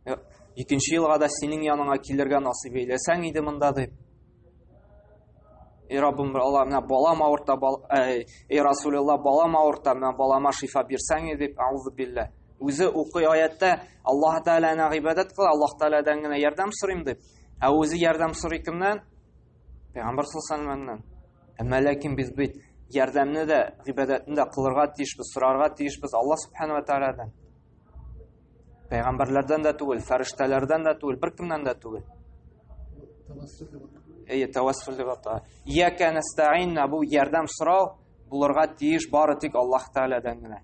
э, икенче елга да синең яныңа килергә насыйп әйләсәң иде монда дип эй раббым алла менә балам авырта бал, э, эй расулилла балам авырта менә балама шифа бирсәң иде дип аузу биллә үзе укый аятта аллаһ тәгаләне гыйбадәт кыл аллаһ тәгаләдән генә ярдәм сорыйм дип ә үзе ярдәм сорый кемнән пәйгамбәр саллаллаху алейхи Әмма ләкин без бит ярдәмне дә, гыйбадәтне дә кылырга тиешбез, сорарга тиешбез Алла субхана ва тааладан. Пәйгамбәрләрдән дә түгел, фәрештәләрдән дә түгел, беркемнән дә түгел. Әйе, тәвәссүл дип ата. Иякә нәстәгыйн бу ярдәм сорау булырга тиеш бары тик Аллаһ Тааладан гына.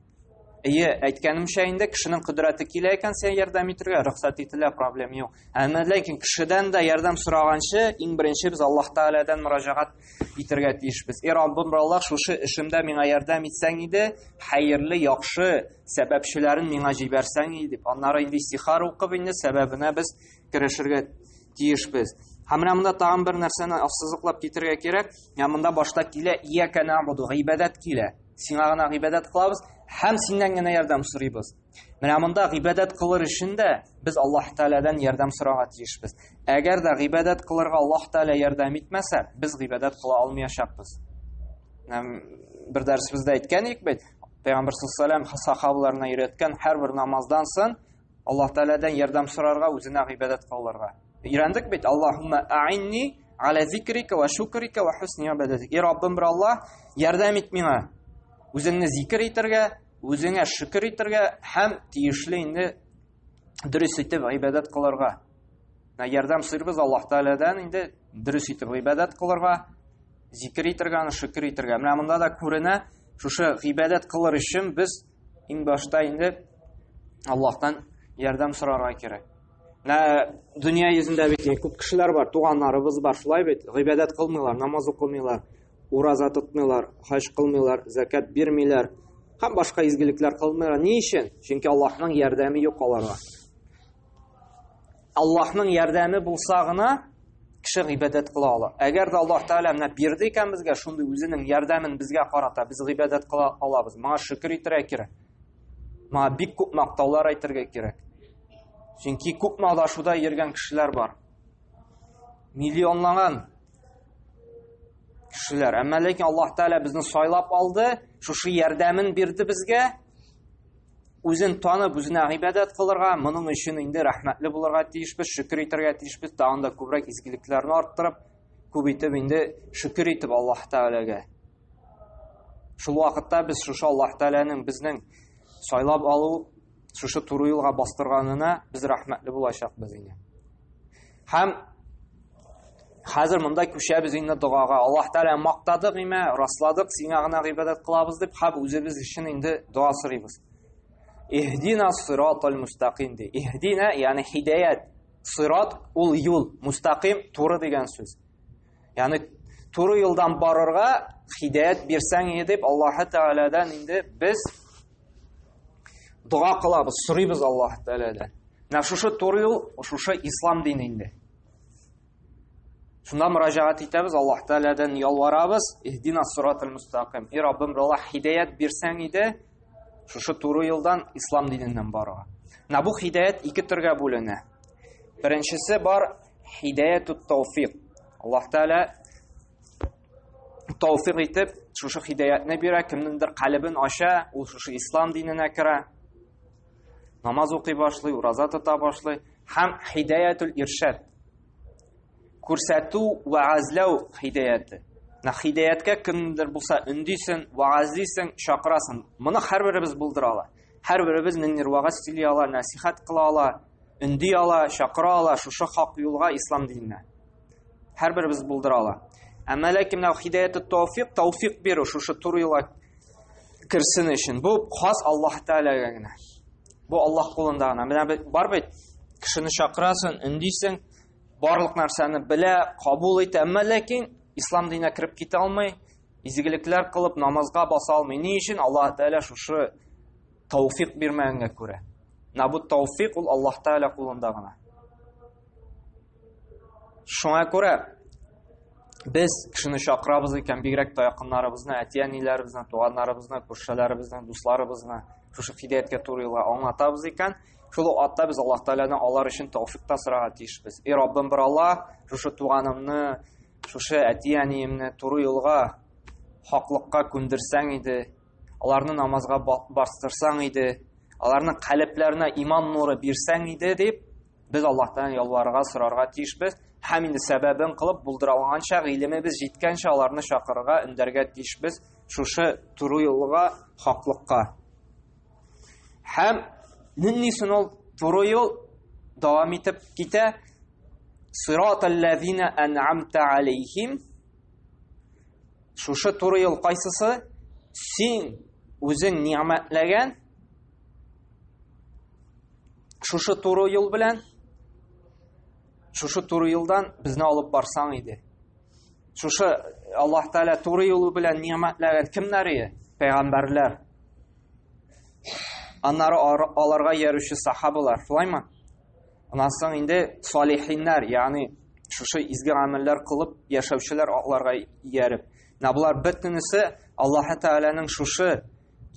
Әйе, әйткәнемчә инде кешенең кодрәте килә икән сиңа ярдәм итәргә, рөхсәт ителә, проблем юк. Әмма ләкин кешедән дә ярдәм сораганчы, иң беренче без Аллаһ Тәгаләдән мөрәҗәгать итәргә тиешбез. Эй Раббым, Аллаһ, шушы эшемдә миңа ярдәм итсәң иде, хәерле, яхшы сәбәпчеләрен миңа җибәрсәң иде дип. Аннары инде истихар укып инде сәбәбенә без керешергә тиешбез. Һәм менә монда тагын бер нәрсәне ассызыклап китергә кирәк. Менә монда башта килә, ия кәнә буду, гыйбадәт килә. Сиңа гына гыйбадәт кылабыз һәм синнән генә ярдәм сорыйбыз. Менә монда гыйбадәт кылыр өчен дә без Аллаһ Тәгаләдән ярдәм сорарга тиешбез. Әгәр дә гыйбадәт кылырга Аллаһ Тәгалә ярдәм итмәсә, без гыйбадәт кыла алмаячакбыз. Һәм бер дәресебездә әйткән идек бит, Пәйгамбәр саллаллаһу алейһи һәр бер намаздан соң Аллаһ Тәгаләдән ярдәм сорарга, үзенә гыйбадәт кылырга. Өйрәндек бит, Аллаһумма аинни аля зикрика ва шукрика ва хусни ибадатик. И Раббым бер Аллаһ, ярдәм ит миңа. Үзеңне зикр итәргә, үзеңә шөкер итәргә һәм тиешле инде дөрес итеп гыйбадәт кылырга. На ярдәм сыйрбыз Аллаһ Тәгаләдән инде дөрес итеп гыйбадәт кылырга, зикр итәргә, аны шөкер итәргә. Менә монда да күренә, шушы гыйбадәт кылыр өчен без Иң башта инде Аллаһтан ярдәм сорарга кирәк. Нә дөнья йөзендә бит күп кешеләр бар, туганнарыбыз бар, шулай бит. Гыйбадәт кылмыйлар, намаз укымыйлар, ураза тотмыйлар, хаҗ кылмыйлар, закат бирмиләр һәм башка изгелекләр кылмыйлар. Ни өчен? Чөнки Аллаһның ярдәме юк аларга. Аллаһның ярдәме булса гына кеше гыйбадәт кыла ала. Әгәр дә Аллаһ Тәгалә менә бирде икән безгә шундый үзенең ярдәмен безгә карата, без гыйбадәт кыла алабыз. Моңа шөкер итәргә кирәк. Моңа бик күп мактаулар әйтергә кирәк. Чөнки күп мадашуда йөргән кешеләр бар. Миллионлаган кешеләр. Әмма ләкин Аллаһ Тәгалә безне сайлап алды, шушы ярдәмен бирде безгә. үзен танып, үзенә гыйбадәт кылырга, моның өчен инде рәхмәтле булырга тиешбез, шөкер итәргә тиешбез, тагын да күбрәк изгелекләрне арттырып, күп итеп инде шөкер итеп Аллаһ Тәгаләгә. Шул вакытта без шушы Аллаһ Тәгаләнең безнең сайлап алу, шушы туры юлга бастырганына без рәхмәтле булачакбыз инде. Һәм хәзер монда күчәбез инде догага. Аллаһ Тәгалә мактадык имә, расладык, сиңа гына гыйбадәт кылабыз дип, хәб үзебез өчен инде дога сорыйбыз. Иһдина сиратал мустаким ди. Иһдина, ягъни хидаят. Сират ул юл, мустаким туры дигән сүз. Ягъни туры юлдан барырга хидаят бирсәң иде дип Аллаһ Тәгаләдән инде без дога кылабыз сорыйбыз аллаһ тәгаләдән менә шушы туры юл шушы ислам дине инде шунда мөрәҗәгать итәбез аллаһ тәгаләдән ялварабыз иһдина сиратал мустақим и раббым алла хидаят бирсәң иде шушы туры юлдан ислам диненнән баруга менә бу хидаят ике төргә бүленә беренчесе бар хидаяту тауфиқ аллаһ тәгалә тауфик итеп шушы хидәятне бирә кемнеңдер калебен ача ул шушы ислам диненә керә намаз укый башлый ураза тота башлый һәм хидәятул иршад күрсәтү вәгазләү хидәяте хидәяткә кемдер булса өндисең вәгазлисең чакырасың моны һәрберебез булдыра ала һәрберебез ниндидер вәгазь сөйли ала нәсихәт кыла ала өнди ала чакыра ала шушы хак юлга ислам диненә Һәр беребез булдыра ала. Әмма ләкин менә хидаяты тауфик, тауфик бирү шушы туры юлга керсен өчен. Бу хас Аллаһ Тәгаләгә генә. Бу Аллаһ кулында гына. Менә бит бар бит. Кешене чакырасын, өндисең, барлык нәрсәне белә, кабул итә, әмма ләкин ислам диненә кереп китә алмый, изгелекләр кылып намазга баса алмый. Ни өчен Аллаһ Тәгалә шушы Тауфик бирмәгәнгә күрә. Менә бу тауфик ул Аллаһ Тәгалә кулында гына. Шуңа күрә без кешене чакырабыз икән, бигрәк тә якыннарыбызны, әти-әниләребезне, туганнарыбызны, күршеләребезне, дусларыбызны шушы хидәяткә туры юлга аңлатабыз икән, шул ук атта без Аллаһ Тәгаләдән алар өчен тауфик та сорарга тиешбез. И Раббым бер Аллаһ, шушы туганымны, шушы әти-әниемне туры юлга, хаклыкка күндерсәң иде, Аларны намазга бастырсаң иде, аларның калебләренә иман нуры бирсәң иде дип, без Аллаһтан ялварырга, сорарга тиешбез. Һәм инде сәбәбен кылып булдыра алганча, гыйлемебез җиткәнчә аларны чакырырга, өндәргә тиешбез шушы туры юлга, хаклыкка. Һәм нинди соң ул туры юл дәвам итеп китә? Сират аллазина ан'амта алейхим Шушы туры юл кайсысы? Син үзең ни'мәтләгән шушы туры юл белән шушы туры юлдан безне алып барсаң иде. Шушы Аллаһ Тәгалә туры юл белән ни'мәтләгән кемнәр иде? Пәйгамбәрләр. Аннары аларга яручы сахабалар, шулаймы? Аннан соң инде салихиннар, ягъни шушы изге гамәлләр кылып яшәүчеләр атларга ияреп. Менә булар бөтенесе Аллаһ Тәгаләнең шушы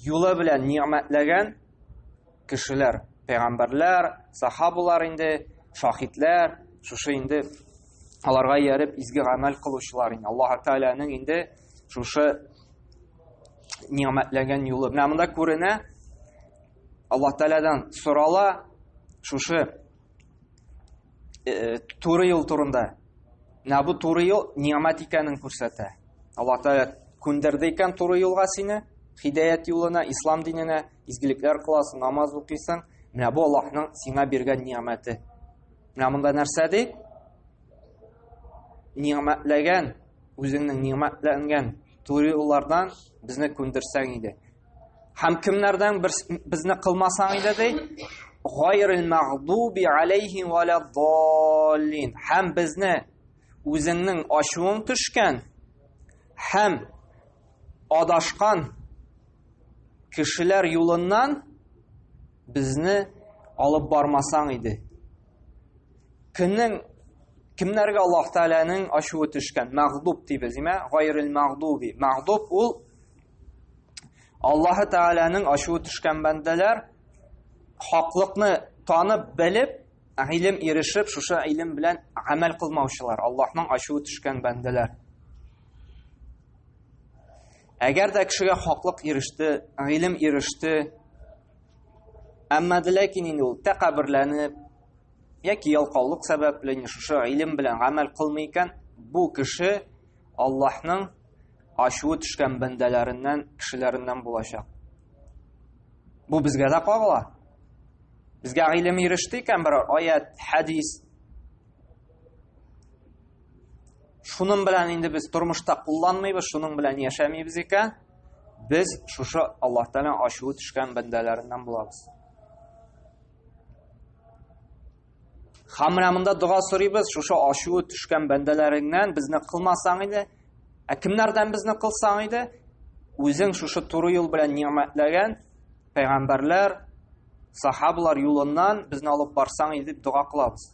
юлы белән ни'мәтләгән кешеләр, пәйгамбәрләр, сахабалар инде, шахидләр, шушы инде аларга ияреп изге гамәл кылучылар инде. Аллаһ Тәгаләнең инде шушы ни'мәтләгән юлы. Менә монда күренә, Аллаһ Тәгаләдән сорала шушы э, туры юл турында. Менә бу туры юл ниамәт икәнен күрсәтә. Аллаһ Тәгалә күндерде икән туры юлга сине, хидәят юлына, ислам диненә, изгелекләр кыласың, намаз укыйсың. Менә бу Аллаһның сиңа биргән ниамәте. Менә монда нәрсә ди? Ниамәтләгән, үзеңнең ниамәтләнгән туры юллардан безне күндерсәң иде. Һәм кемнәрдән бер безне кылмасаң иде ди, гайрил мәгъдуби алейхи ва ла даллин. Һәм безне үзеңнең ачуың төшкән һәм адашкан кешеләр юлыннан безне алып бармасаң иде. кемнең кемнәргә Аллаһ Тәгаләнең ачуы төшкән? Мәгъдуб дибез, имә, гайрил мәгъдуби. Мәгъдуб ул Аллаһ Тәгаләнең ачуы төшкән бәндәләр хаклыкны танып, белеп, гыйлем ирешеп, шушы гыйлем белән гамәл кылмаучылар, Аллаһның ачуы төшкән бәндәләр. Әгәр дә кешегә хаклык иреште, гыйлем иреште, Әмма ләкин инде ул тәкәбберләнеп яки ялкаулык сәбәпле инде шушы илем белән гамәл кылмый икән, бу кеше Аллаһның ачуы төшкән бәндәләреннән, кешеләреннән булачак. Бу безгә дә кагыла. Безгә гыйлем иреште икән бер аят, хәдис. Шуның белән инде без тормышта кулланмыйбыз, шуның белән яшәмибез икән. Без шушы Аллаһ Тәгалә ачуы төшкән бәндәләреннән булабыз. Хамрамында дога сорыйбыз, шушы ачуы төшкән бәндәләреңнән безне кылмасаң иде, ә кемнәрдән безне кылсаң иде, үзең шушы туры юл белән ниъмәтләгән пәйгамбәрләр, сахабалар юлыннан безне алып барсаң иде дип дога кылабыз.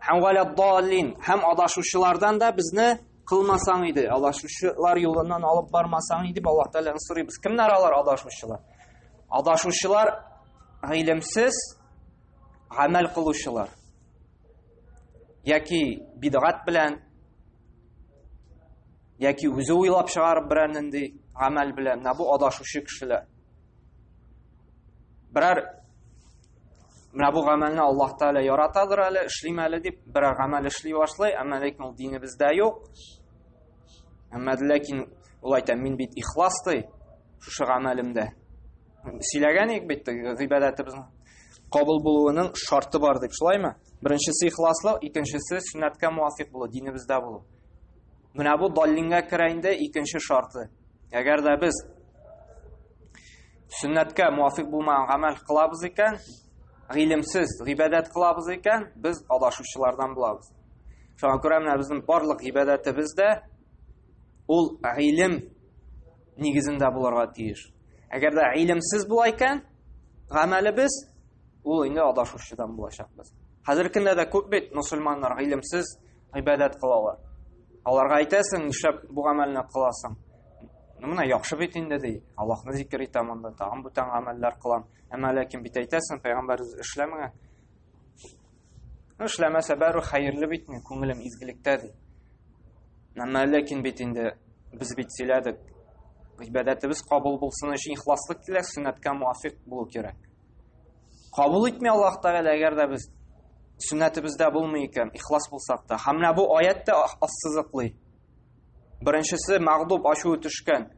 Һәм валя даллин, һәм адашучылардан да безне Кылмасаң иде, адашучылар юлыннан алып бармасаң иде, Аллаһ Тәгаләдән сорыйбыз. Кемнәр алар адашучылар? Адашучылар гыйлемсез гамәл кылучылар. Яки бидгат белән, яки үзе уйлап чыгарып берәр нинди гамәл белән, менә бу адашучы кешеләр. Берәр Менә бу гамәлне Аллаһ Тәгалә яратадыр әле, эшлим әле дип берәр гамәл эшли башлый, әмма ләкин ул динебездә юк. Әмма ләкин ул әйтә, мин бит ихлас ди, шушы гамәлемдә. Сөйләгән идек бит гыйбадәтебезнең кабул булуының шарты бар дип, шулаймы? Беренчесе ихласлык, икенчесе сөннәткә муафик булу, динебездә булу. Менә бу даллингә керә инде икенче шарты. Әгәр дә без Сөннәткә муафик булмаган гамәл кылабыз икән, гыйлемсез гыйбадәт кылабыз икән, без адашучылардан булабыз. Шуңа күрә менә безнең барлык гыйбадәтебез дә ул гыйлем нигезендә булырга тиеш. Әгәр дә гыйлемсез була икән, гамәлебез ул инде адашучыдан булачак без. Хәзер көндә дә күп бит мусульманнар гыйлемсез гыйбадәт кылалар. Аларга әйтәсең, нишләп бу гамәлне кыласың? Ну менә яхшы бит инде ди. Аллаһны зикер итә монда, тагын бүтән гамәлләр кылам. Әмма ләкин бит әйтәсең, пәйгамбәр эшләмәгән. Ну эшләмәсә бәру хәерле бит ни, күңелем изгелектә ди. Әмма ләкин бит инде без бит сөйләдек. Гыйбадәтебез кабул булсын өчен ихласлык кирәк, сөннәткә муафик булу кирәк. Кабул итми Аллаһ Тәгалә, әгәр дә без сүннәтебездә булмый икән, ихлас булсак та. Һәм менә бу аят та ассызыклый. Беренчесе мәгъдуб ачуы төшкән.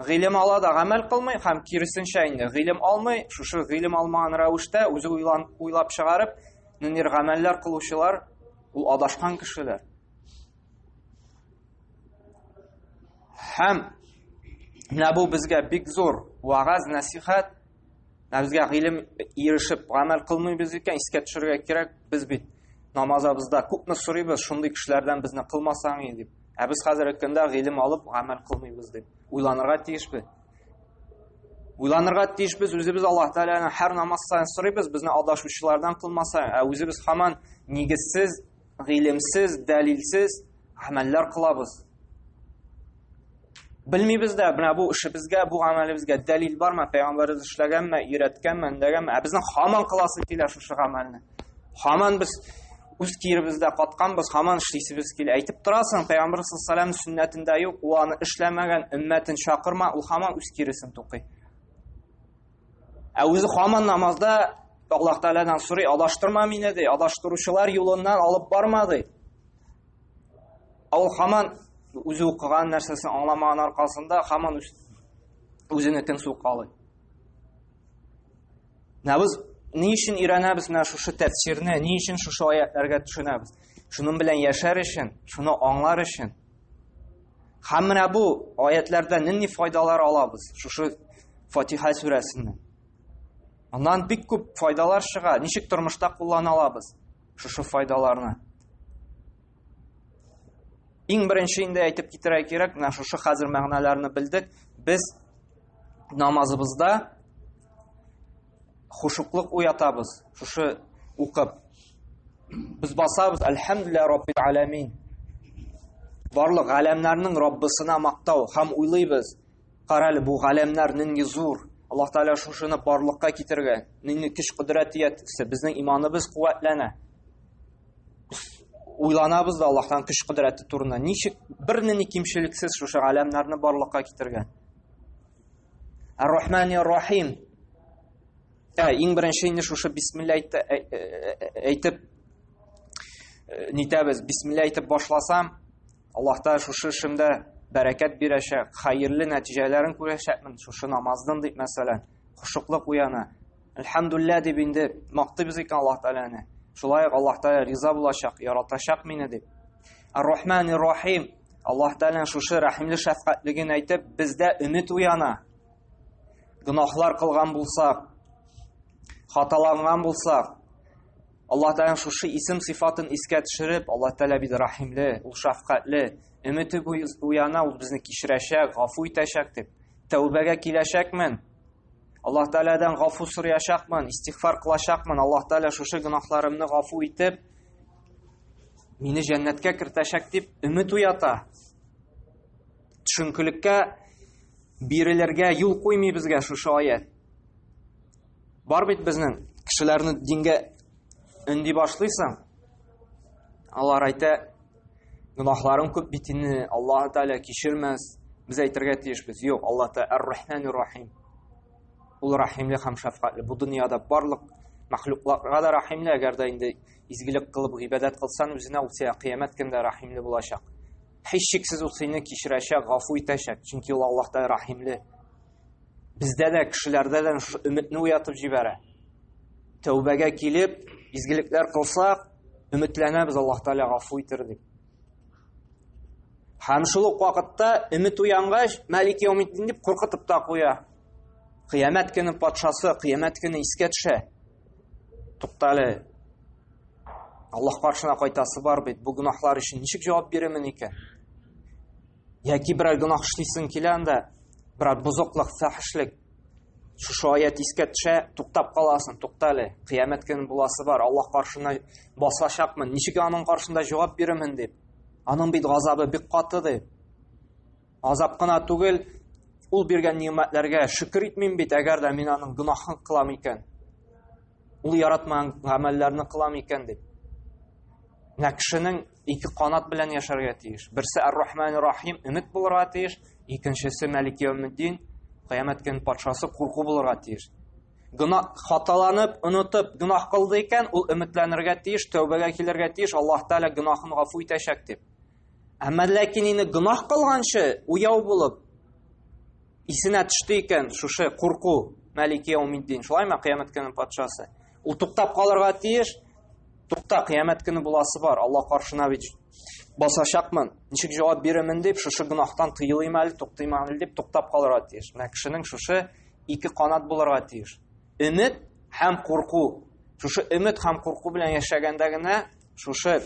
Гыйлем ала да гамәл кылмый һәм киресенчә инде гыйлем алмый, шушы гыйлем алмаган рәвештә үзе уйлан уйлап чыгарып, ниндидер гамәлләр кылучылар ул адашкан кешеләр. һәм менә бу безгә бик зур вагаз нәсихәт менә безгә гыйлем ирешеп гамәл кылмыйбыз икән искә төшерергә кирәк без бит намазыбызда күпме сорыйбыз шундый кешеләрдән безне кылмасаң и дип ә без хәзерге көндә гыйлем алып гамәл кылмыйбыз дип уйланырга тиешбез уйланырга тиешбез үзебез аллаһ тәгаләне һәр намаз сайын сорыйбыз безне адашучылардан кылмаса ә үзебез һаман нигезсез Гыйлемсез, дәлилсез гамәлләр кылабыз. Белмибез дә, менә бу эшебезгә, бу гамәлебезгә дәлил бармы, пәйгамбәребез эшләгәнме, өйрәткәнме, үндәгәнме? Ә безнең хаман кыласы килә шушы гамәлне. Хаман без үз киеребездә катканбыз, хаман эшлисебез килә. Әйтеп торасың, пәйгамбәр саллаллаһу алейһи ва сөннәтендә юк, ул аны эшләмәгән, өммәтен чакырма, ул хаман үз киресен тукый. Ә үзе хаман намазда Аллаһ Тәгаләдән сорый, адаштырма мине ди, адаштыручылар юлыннан алып барма ди. Ул хаман үзе укыган нәрсәсен аңламаган аркасында хаман үзене тен сукалый. Менә без ни өчен өйрәнәбез менә шушы тәфсирне, ни өчен шушы аятларга төшенәбез? Шуның белән яшәр өчен, шуны аңлар өчен, Һәм менә бу аятләрдән нинди файдалар алабыз? Шушы Фатиха сүрәсеннән. Аннан бик күп файдалар чыга. Ничек тормышта куллана алабыз шушы файдаларны? Иң беренче инде әйтеп китерә кирәк, менә шушы хәзер мәгънәләрне белдек. Без намазыбызда хушуклык уятабыз шушы укып без басабыз әлхәмдүлиллә раббил аләмин барлык галәмнәрнең раббысына мактау һәм уйлыйбыз карале бу галәмнәр нинди зур аллаһ тәгалә шушыны барлыкка китергән нинди көч кодрәт иясе безнең иманыбыз куәтләнә уйланабыз да аллаһтан көч кодрәте турында ничек бернинди кимчелексез шушы галәмнәрне барлыкка китергән Ар-Рахмани Рахим. Ә, иң беренче инде шушы бисмилла әйтте, ә, ә, ә, әйтеп э, нитәбез, бисмилла әйтеп башласам, Аллаһ та шушы эшемдә бәрәкәт бирәчәк, хәерле нәтиҗәләрен күрәчәкмен, шушы намаздан дип мәсәлән, хушуклык уяна, Әлхәмдуллә дип инде мактыйбыз икән Аллаһ Тәгаләне. Шулай ук Аллаһ Тәгалә риза булачак, яратачак мине дип. Ар-Рахман ир-Рахим. Аллаһ Тәгалә шушы рәхимле шәфкатьлеген әйтеп, бездә өмет уяна. Гынаһлар кылган булсак, хаталанган булсак, Аллаһ Тәгалә шушы исем сыйфатын искә төшереп, Аллаһ Тәгалә бит рәхимле, ул шәфкатьле. Өмете уяна, ул безне кичерәчәк, гафу итәчәк дип. Тәүбәгә киләчәкмен. Аллаһ Тәгаләдән гафу сораячакмын, истигъфар кылачакмын. Аллаһ Тәгалә шушы гөнаһларымны гафу итеп, мине җәннәткә кертәчәк дип өмет уята. Төшенкелеккә бирелергә юл куймый безгә шушы аят. Бар бит безнең кешеләрне дингә өнди башлыйсың. Алар әйтә, Гөнаһларың күп бит инде, Аллаһ Тәгалә кичермәс. Без әйтергә тиешбез. Юк, Аллаһ Тәгалә Ар-Рахман Ар-Рахим. Ул рәхимле һәм шәфкатьле. Бу дөньяда барлык мәхлукларга да рәхимле, әгәр дә инде изгелек кылып гыйбадәт кылсан, үзенә ул сиңа кыямәт көндә рәхимле булачак. Һичшиксез ул сине кичерәчәк, гафу итәчәк, чөнки ул Аллаһ Тәгалә рәхимле. Бездә дә кешеләрдә дә шушы өметне уятып җибәрә. Тәүбәгә килеп, изгелекләр кылсак, өметләнәбез Аллаһ Тәгалә гафу итер дип. Һәм шул ук вакытта өмет уянгач, Мәлик Яумитдин дип куркытып та куя. Кыямәт көне патшасы, кыямәт көне искә төшә. Туктале. Аллаһ каршына кайтасы бар бит. Бу гөнаһлар өчен ничек җавап бирәмен икән? Яки берәр гөнаһ эшлисең килә анда, берәр бозыклык, фәхешлек. Шушы аят искә төшә, туктап каласың, тукта әле. Кыямәт көне буласы бар, Аллаһ каршына басачакмын. Ничек аның каршында җавап бирәмен дип. Аның бит газабы бик каты дип. Азап кына түгел, ул биргән нимәтләргә шөкер итмим бит, әгәр дә мин аның гөнаһын кылам икән. Ул яратмаган гамәлләрне кылам икән дип. Менә кешенең ике канат белән яшәргә тиеш. Берсе Ар-Рахман Рахим, өмет булырга тиеш, икенчесе Малик Яумиддин, кыямәт көн патшасы курку булырга тиеш. Гына хаталанып, онытып, гынах кылды икән, ул өметләнергә тиеш, тәүбәгә килергә тиеш, Аллаһ Тәгалә гынахын гафу итәчәк дип. Әмма ләкин инде гынах кылганчы, уяу булып, исенә төште икән шушы курку Малик Яумиддин, шулаймы кыямәт көнен патшасы? Ул туктап калырга тиеш. Тукта, кыямәт көне буласы бар. Алла каршына бит басачакмын. Ничек җавап бирәмен дип, шушы гынахтан тыелыйм әле, туктыйм әле дип туктап калырга тиеш. Менә кешенең шушы ике канат булырга тиеш. Өмет һәм курку. Шушы өмет һәм курку белән яшәгәндә генә шушы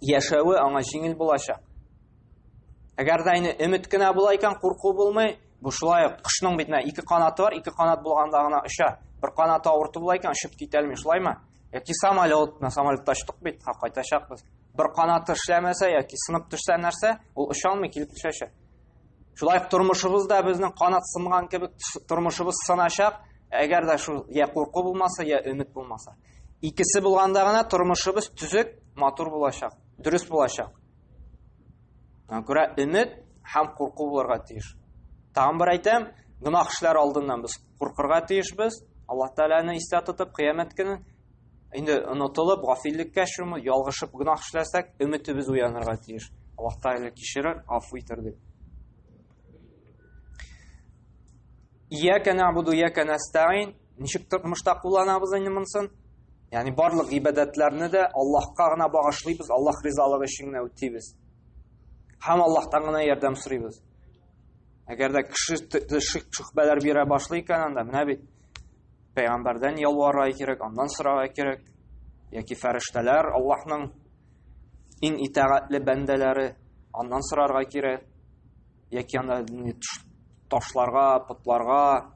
яшәве аңа җиңел булачак. Әгәр дә инде өмет кенә була икән, курку булмый, Бу шулай ук кошның бит менә ике канаты бар, ике канат булганда гына оча. Бер канаты авырты була икән, очып китә алмый, шулаймы? Яки самолет, на самолетта очтык бит, ха кайтачакбыз. Бер канаты эшләмәсә яки сынып төшсә нәрсә, ул оча алмый килеп төшәчәк. Шулай ук тормышыбыз да безнең канат сынган кебек тормышыбыз сыначак, әгәр дә шул я курку булмаса, я өмет булмаса. Икесе булганда гына тормышыбыз төзек, матур булачак, дөрес булачак. Аңа күрә өмет һәм курку булырга тиеш. Тагын бер әйтәм, гөнаһ эшләр алдыннан без куркырга тиешбез. Аллаһ Тәгаләне истә тотып, кыямәт көне инде онытылып, гафиллеккә чуму, ялгышып гөнаһ эшләсәк, өметебез уянырга тиеш. Аллаһ Тәгалә кичерер, афу итер дип. Ияка набуду, ияка нәстәин. Ничек мыштак кулланабыз инде монсын? Ягъни барлык гыйбадәтләрне дә Аллаһка гына багышлыйбыз, Аллаһ ризалыгы өчен генә үтибез. Һәм Аллаһтан гына ярдәм сорыйбыз. Әгәр дә кеше шик шөхбәләр бирә башлый икән анда, менә бит пәйгамбәрдән ялварга кирәк, аннан сорарга кирәк. Яки фәрештәләр Аллаһның иң итагатьле бәндәләре, аннан сорарга кирәк. яки анда ташларга, потларга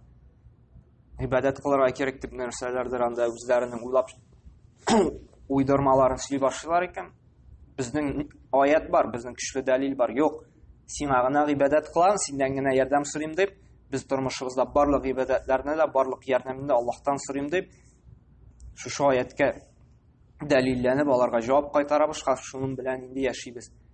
гыйбадәт кылырга кирәк дип нәрсәләрдер анда үзләренең уйлап уйдырмаларын сөйли башлыйлар икән. Безнең аят бар, безнең көчле дәлил бар. Юк, сиңа гына гыйбадәт кылам, синнән генә ярдәм сорыйм дип, без тормышыбызда барлык гыйбадәтләрне дә, барлык ярдәмне дә Аллаһтан сорыйм дип, шушы аяткә дәлилләнеп аларга җавап кайтарабыз, шуның белән инде яшибез.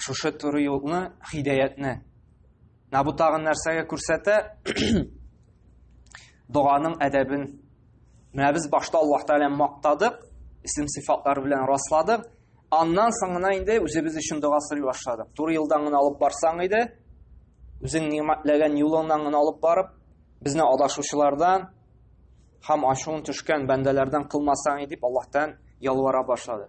Шушы туры юлны, хидәятне. Менә бу тагын нәрсәгә күрсәтә? Доганың әдәбен. Менә без башта Аллаһ Тәгаләне мактадык, исем сыйфатлары белән расладык. Аннан соң гына инде үзебез өчен дога сорый башладык. Туры юлдан гына алып барсаң иде, үзең нигъмәтләгән юлыңнан гына алып барып, безне адашучылардан һәм ашуын төшкән бәндәләрдән кылмасаң дип Аллаһтан ялвара башлады.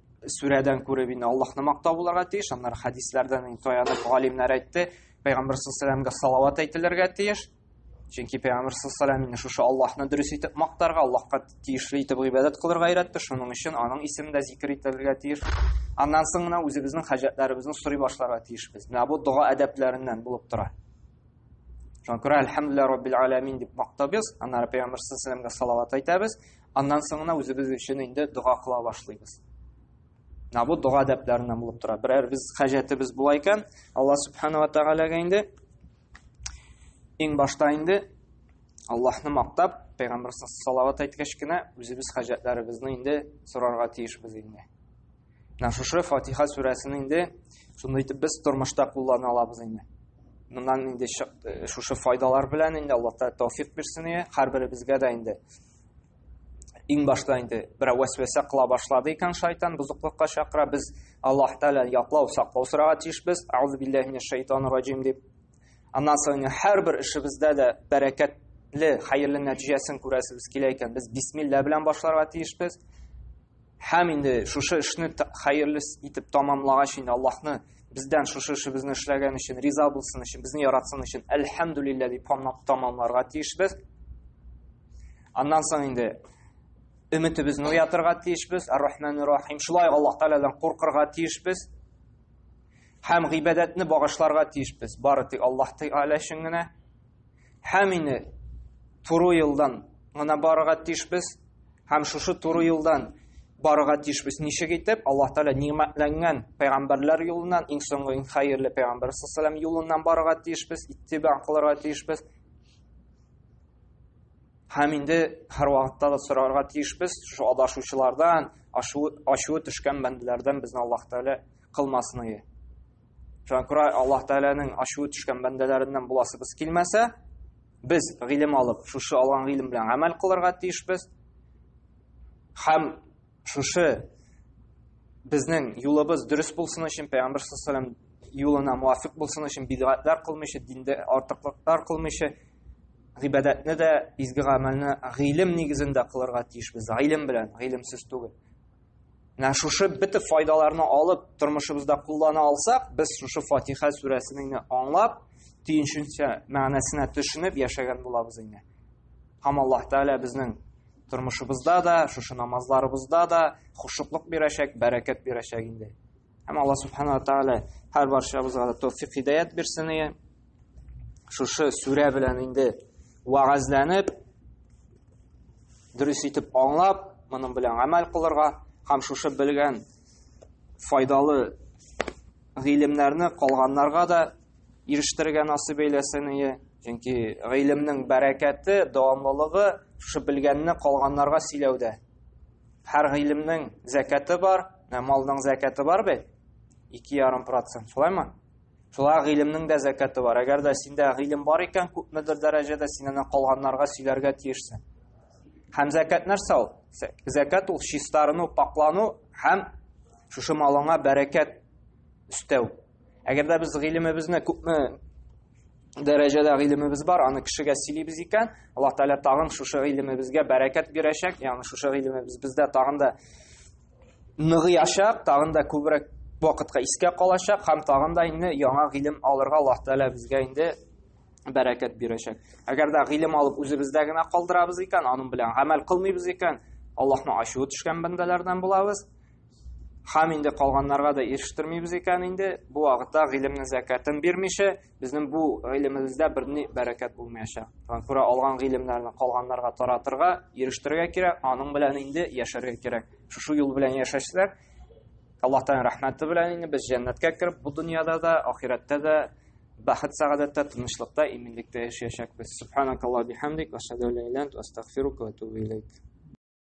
сүрәдән күреп инде Аллаһны мактау булырга тиеш. Аннары хәдисләрдән инде таянып галимнәр әйтте, пәйгамбер саллаллаһу салават әйтелергә тиеш. Чөнки пәйгамбер саллаллаһу алейһи шушы Аллаһны дөрес итеп мактарга, Аллаһка тиешле итеп гыйбадәт кылырга өйрәтте. Шуның өчен аның исеме дә зикр ителергә тиеш. Аннан соң гына үзебезнең хаҗәтләребезне сорый башларга тиешбез. Менә бу дога әдәпләреннән булып тора. Шуңа күрә әлхәмдүлилләһи раббил аламин дип мактабыз, аннары пәйгамбер саллаллаһу алейһи салават әйтәбез. Аннан соң гына үзебез өчен инде дога кыла башлыйбыз. Менә бу дога дәпләреннән булып тора. Берәр без хаҗәтебез була икән, Алла субханала тәгаләгә инде иң башта инде Аллаһны мактап, пәйгамбер салават әйткәч кенә үзебез хаҗәтләребезне инде сорарга тиешбез инде. Менә шушы Фатиха сүрәсен инде шундый итеп без тормышта куллана алабыз инде. Моннан инде шушы файдалар белән инде Аллаһ тәүфик бирсен, һәрберебезгә дә инде иң башта инде берәү вәсвәсә кыла башлады икән шайтан бозыклыкка чакыра без аллаһ тәгалә яклау саклау сорарга тиешбез аузу биллахи минәш шайтан раҗим дип аннан соң һәрбер эшебездә дә бәрәкәтле хәерле нәтиҗәсен күрәсебез килә икән без бисмилла белән башларга тиешбез Һәм инде шушы эшне хәерле итеп тамамлагач инде Аллаһны бездән шушы эшебезне эшләгән өчен риза булсын өчен, безне яратсын өчен әлхәмдүлиллә дип тамамларга тиешбез. Аннан соң инде өметебезне уятырга тиешбез. Ар-Рахман Рахим. Шулай Аллаһ Тәгаләдән куркырга тиешбез. Һәм гыйбадәтне багышларга тиешбез. Бары тик Аллаһ Тәгалә өчен генә. Һәм инде туры юлдан гына барырга тиешбез, һәм шушы туры юлдан барырга тиешбез. Ничек итеп? Аллаһ Тәгалә ниъмәтләнгән пәйгамбәрләр юлыннан, иң соңгы иң хәерле пәйгамбәр саллаллаху алейһи юлыннан барырга тиешбез, иттиба кылырга тиешбез. Һәм инде һәр вакытта да сорарга тиешбез, шушы адашучылардан, ачуы төшкән бәндәләрдән безне Аллаһ Тәгалә кылмасын иде. Шуңа күрә Аллаһ Тәгаләнең ачуы төшкән бәндәләреннән буласыбыз килмәсә, без гыйлем алып, шушы алган гыйлем белән гамәл кылырга тиешбез. Һәм шушы безнең юлыбыз дөрес булсын өчен, Пәйгамбер саллаллаху алейһи юлына муафик булсын өчен бидгатлар кылмыйча, диндә артыклыклар кылмыйча, гыйбадәтне дә, изге гамәлне гыйлем нигезендә кылырга тиешбез. Гыйлем белән, гыйлемсез түгел. Менә шушы бөтен файдаларны алып, тормышыбызда куллана алсак, без шушы Фатиха сүрәсен аңлап, төенченчә мәгънәсенә төшенеп яшәгән булабыз инде. Һәм Аллаһ Тәгалә безнең тормышыбызда да, шушы намазларыбызда да хушуклык бирәчәк, бәрәкәт бирәчәк инде. Һәм Алла Субхану ва Тааля һәр баршабызга да тәүфик хидәят бирсен ие. Шушы сүрә белән инде вагазланып, дөрес итеп аңлап, моның белән гамәл кылырга һәм шушы белгән файдалы гыйлемнәрне калганнарга да ирештерергә насыйп әйләсен ие. Чөнки гыйлемнең бәрәкәте, дәвамлылыгы шушы белгәнне калганнарга сөйләүдә. Һәр гыйлемнең зәкәте бар, ә малның зәкәте бар бит. 2,5%, шулаймы? Шулай гыйлемнең дә зәкәте бар. Әгәр дә синдә гыйлем бар икән, күпмедер дәрәҗәдә син аны калганнарга сөйләргә тиешсең. Һәм зәкәт нәрсә ул? Зәкәт ул чистарыну, паклану һәм шушы малыңа бәрәкәт өстәү. Әгәр дә без гыйлемебезне күпме дәрәҗәдә гыйлемебез бар, аны кешегә сөйлибез икән, Аллаһ Тәгалә тагын шушы гыйлемебезгә бәрәкәт бирәчәк, ягъни шушы гыйлемебез бездә тагын да ныгыячак, тагын да күбрәк вакытка искә калачак һәм тагын да инде яңа гыйлем алырга Аллаһ Тәгалә безгә инде бәрәкәт бирәчәк. Әгәр дә гыйлем алып үзебездә генә калдырабыз икән, аның белән гамәл кылмыйбыз икән, Аллаһның ачуы төшкән бәндәләрдән булабыз. Хам инде калганнарга да ирештермибез икән инде. Бу вакытта гыйлемнең зәкәтен бирмичә, безнең бу гыйлемебездә берни бәрәкәт булмаячак. Шуңа күрә алган гыйлемнәрне калганнарга таратырга, ирештерергә кирәк, аның белән инде яшәргә кирәк. Шушы юл белән яшәсәк, Аллаһ Тәгалә рәхмәте белән инде без җәннәткә кереп, бу дөньяда да, ахирәттә дә бәхет сәгадәттә, тынычлыкта, иминлектә яшәячәкбез. Субханакаллаһу бихамдик, ва ашһаду ла иляха илля ант, ва астагфирука ва атубу илейк.